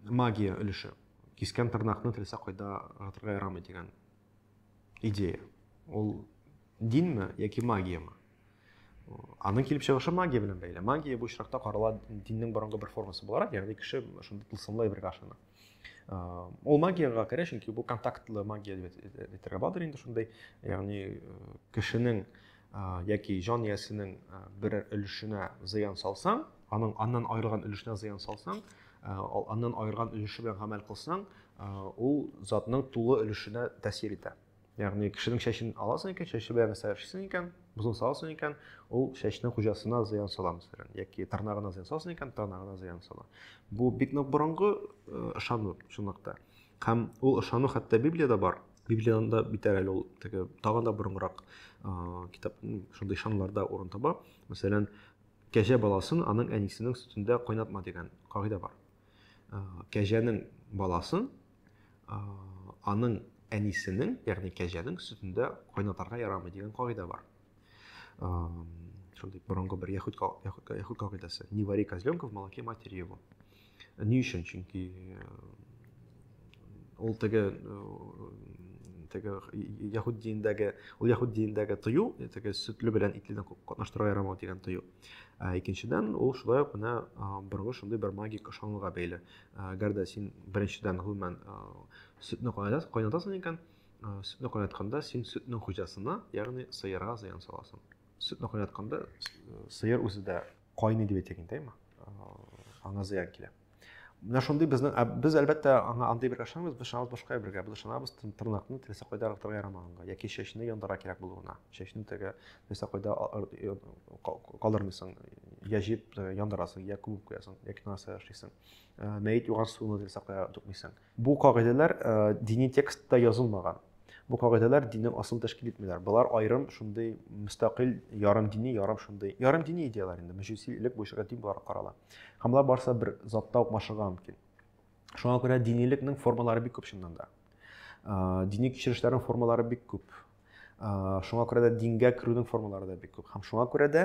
магия өлеше кискән тырнакны теләсә кайда ыргытырга ярамый дигән идея ул динме яки магиямы Аның килеп чыгышы магия белән бәйле. Магия бу очракта карала диннең борынгы бер формасы буларак, ягъни кеше шунда тылсымлы әйбергә ышана. Ул магиягә керә, чөнки бу контактлы магия дип әйтергә буладыр инде шундай, ягъни кешенең яки җан иясенең бер өлешенә зыян салсаң, аның аннан аерылган өлешенә зыян салсаң, аннан аерылган өлеше белән гамәл кылсаң, ул затның тулы өлешенә тәэсир итә. Ягъни кешенең чәчен аласың икән, чәче белән нәрсә эшлисең икән, бозын саласың икән, ул чәчнең хуҗасына зыян сала мәсәлән, яки тырнагына зыян саласың икән, тырнагына зыян сала. Бу бик нык борынгы ышану э, чынлыкта. Һәм ул ышану хәтта Библиядә бар. Библиядә битәр әле ул теге тагын да борынгырак э, китап шундый ышануларда урын таба. Мәсәлән, кәҗә баласын аның әнисенең сөтендә кайнатма дигән кагыйдә бар. кәҗәнең баласын аның әнисенең ягъни кәҗәнең сөтендә кайнатарга ярамый дигән кагыйдә бар шундый борынгы бер яхуд яхуд кагыйдәсе не вари козленка в молоке матери его ни өчен чөнки ул теге теге яхуд динендәге ул яхуд динендәге тыю теге сөтле белән итледән катнаштырырга ярамау дигән тыю ә икенчедән ул шулай ук менә борынгы шундый бер магик ышануга бәйле әгәр дә син беренчедән гомумән сөтне кайнатасың икән сөтне кайнатканда син сөтнең хуҗасына ягъни сыерга зыян саласың сөтне кайнатканда сыер үзе дә кайный дип әйтә икән аңа зыян килә Менә шундый безнең, ә без әлбәттә аңа андый бергә ышанмыйбыз, без ышанабыз башка бергә. Без ышанабыз тырнакны теләсә кайда арыктырырга ярамаганга, яки чәчне яндыра кирәк булуына. Чәчне теге теләсә кайда калдырмыйсың, я җыеп яндырасың, я күмеп куясың, яки нәрсә эшлисең. Мәет юган суны теләсә кая түкмисең. Бу кагыйдәләр дини текстта язылмаган. Бу кагыйдәләр диннең асылын тәшкил итмиләр. Болар аерым шундый мөстәкыйль ярым дини, ярым шундый, ярым дини идеяләр инде. Мәҗүси элек бу эшкә дин буларак карала. Һәм болар барысы бер затта ук машыга мөмкин. Шуңа күрә динилекнең формалары бик күп чыннан да. Дини кичерешләрнең формалары бик күп. Шуңа күрә дә дингә керүнең формалары да бик күп. Һәм шуңа күрә дә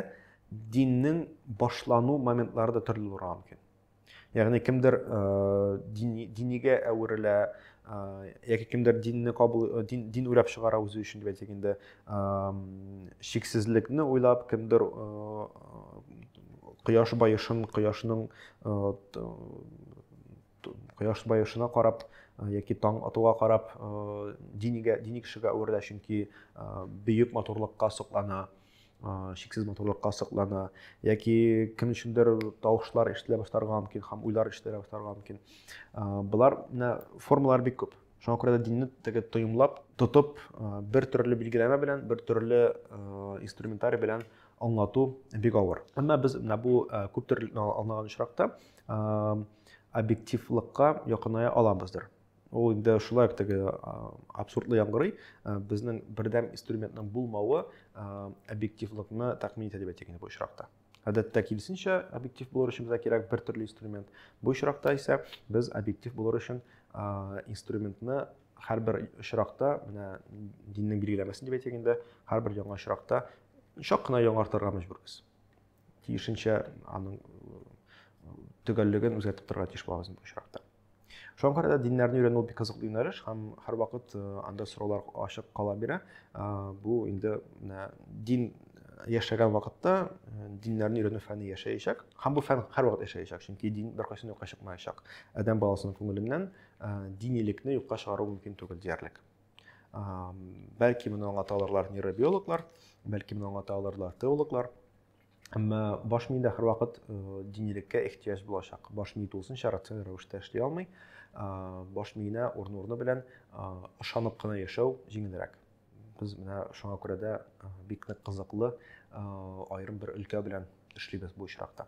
диннең башлану моментлары да төрле булырга мөмкин. Ягъни кемдер дини, динигә әверелә, яки кемдер динне кабул дин, дин уйлап чыгара үзе өчен дип әйтик инде шиксезлекне уйлап кемдер кояш баешын кояшның кояш баешына карап яки таң атуга карап динигә дини кешегә әверелә чөнки бөек матурлыкка соклана шексез матурлыкка соклана яки кем өчендер тавышлар ишетелә башларга мөмкин һәм уйлар ишетелә башларга мөмкин болар менә формалар бик күп шуңа күрә дә динне теге тоемлап тотып бер төрле билгеләмә белән бер төрле инструментарий белән аңлату бик авыр әмма без менә бу күп төрле аңлаган очракта объективлыкка якыная аламыздыр Ул инде шулай теге абсурдлы яңгырый. Безнең бердәм инструментның булмавы объективлыкны тәкъмин итә дип әйтик инде бу очракта. Гадәттә киресенчә объектив булыр өчен безгә кирәк бер төрле инструмент. Бу очракта исә без объектив булыр өчен инструментны һәрбер очракта, менә диннең билгеләмәсе дип әйтик инде, һәрбер яңа очракта чак кына яңартырга мәҗбүрбез. Тиешенчә аның төгәллеген үзгәртеп торырга тиеш булабыз бу очракта. шуңа күрә дә диннәрне өйрәнү бик кызыклы юнәлеш һәм һәрвакыт э, анда сораулар ачык кала бирә э, бу инде менә дин яшәгән вакытта э, диннәрне өйрәнү фәне яшәячәк һәм бу фән һәрвакыт яшәячәк чөнки дин беркайчан юкка чыкмаячак адәм баласының күңеленнән динилекне юкка чыгару мөмкин түгел диярлек бәлки моны аңлата алырлар нейробиологлар бәлки моны аңлата алырлар теологлар Әмма баш миендә һәрвакыт э, динилеккә ихтияҗ булачак. Баш мие тулысынча рациональ рәвештә эшли алмый. Баш миенә урын урыны белән ышанып кына яшәү җиңелрәк. Без менә шуңа күрә дә бик нык кызыклы аерым бер өлкә белән эшлибез бу очракта.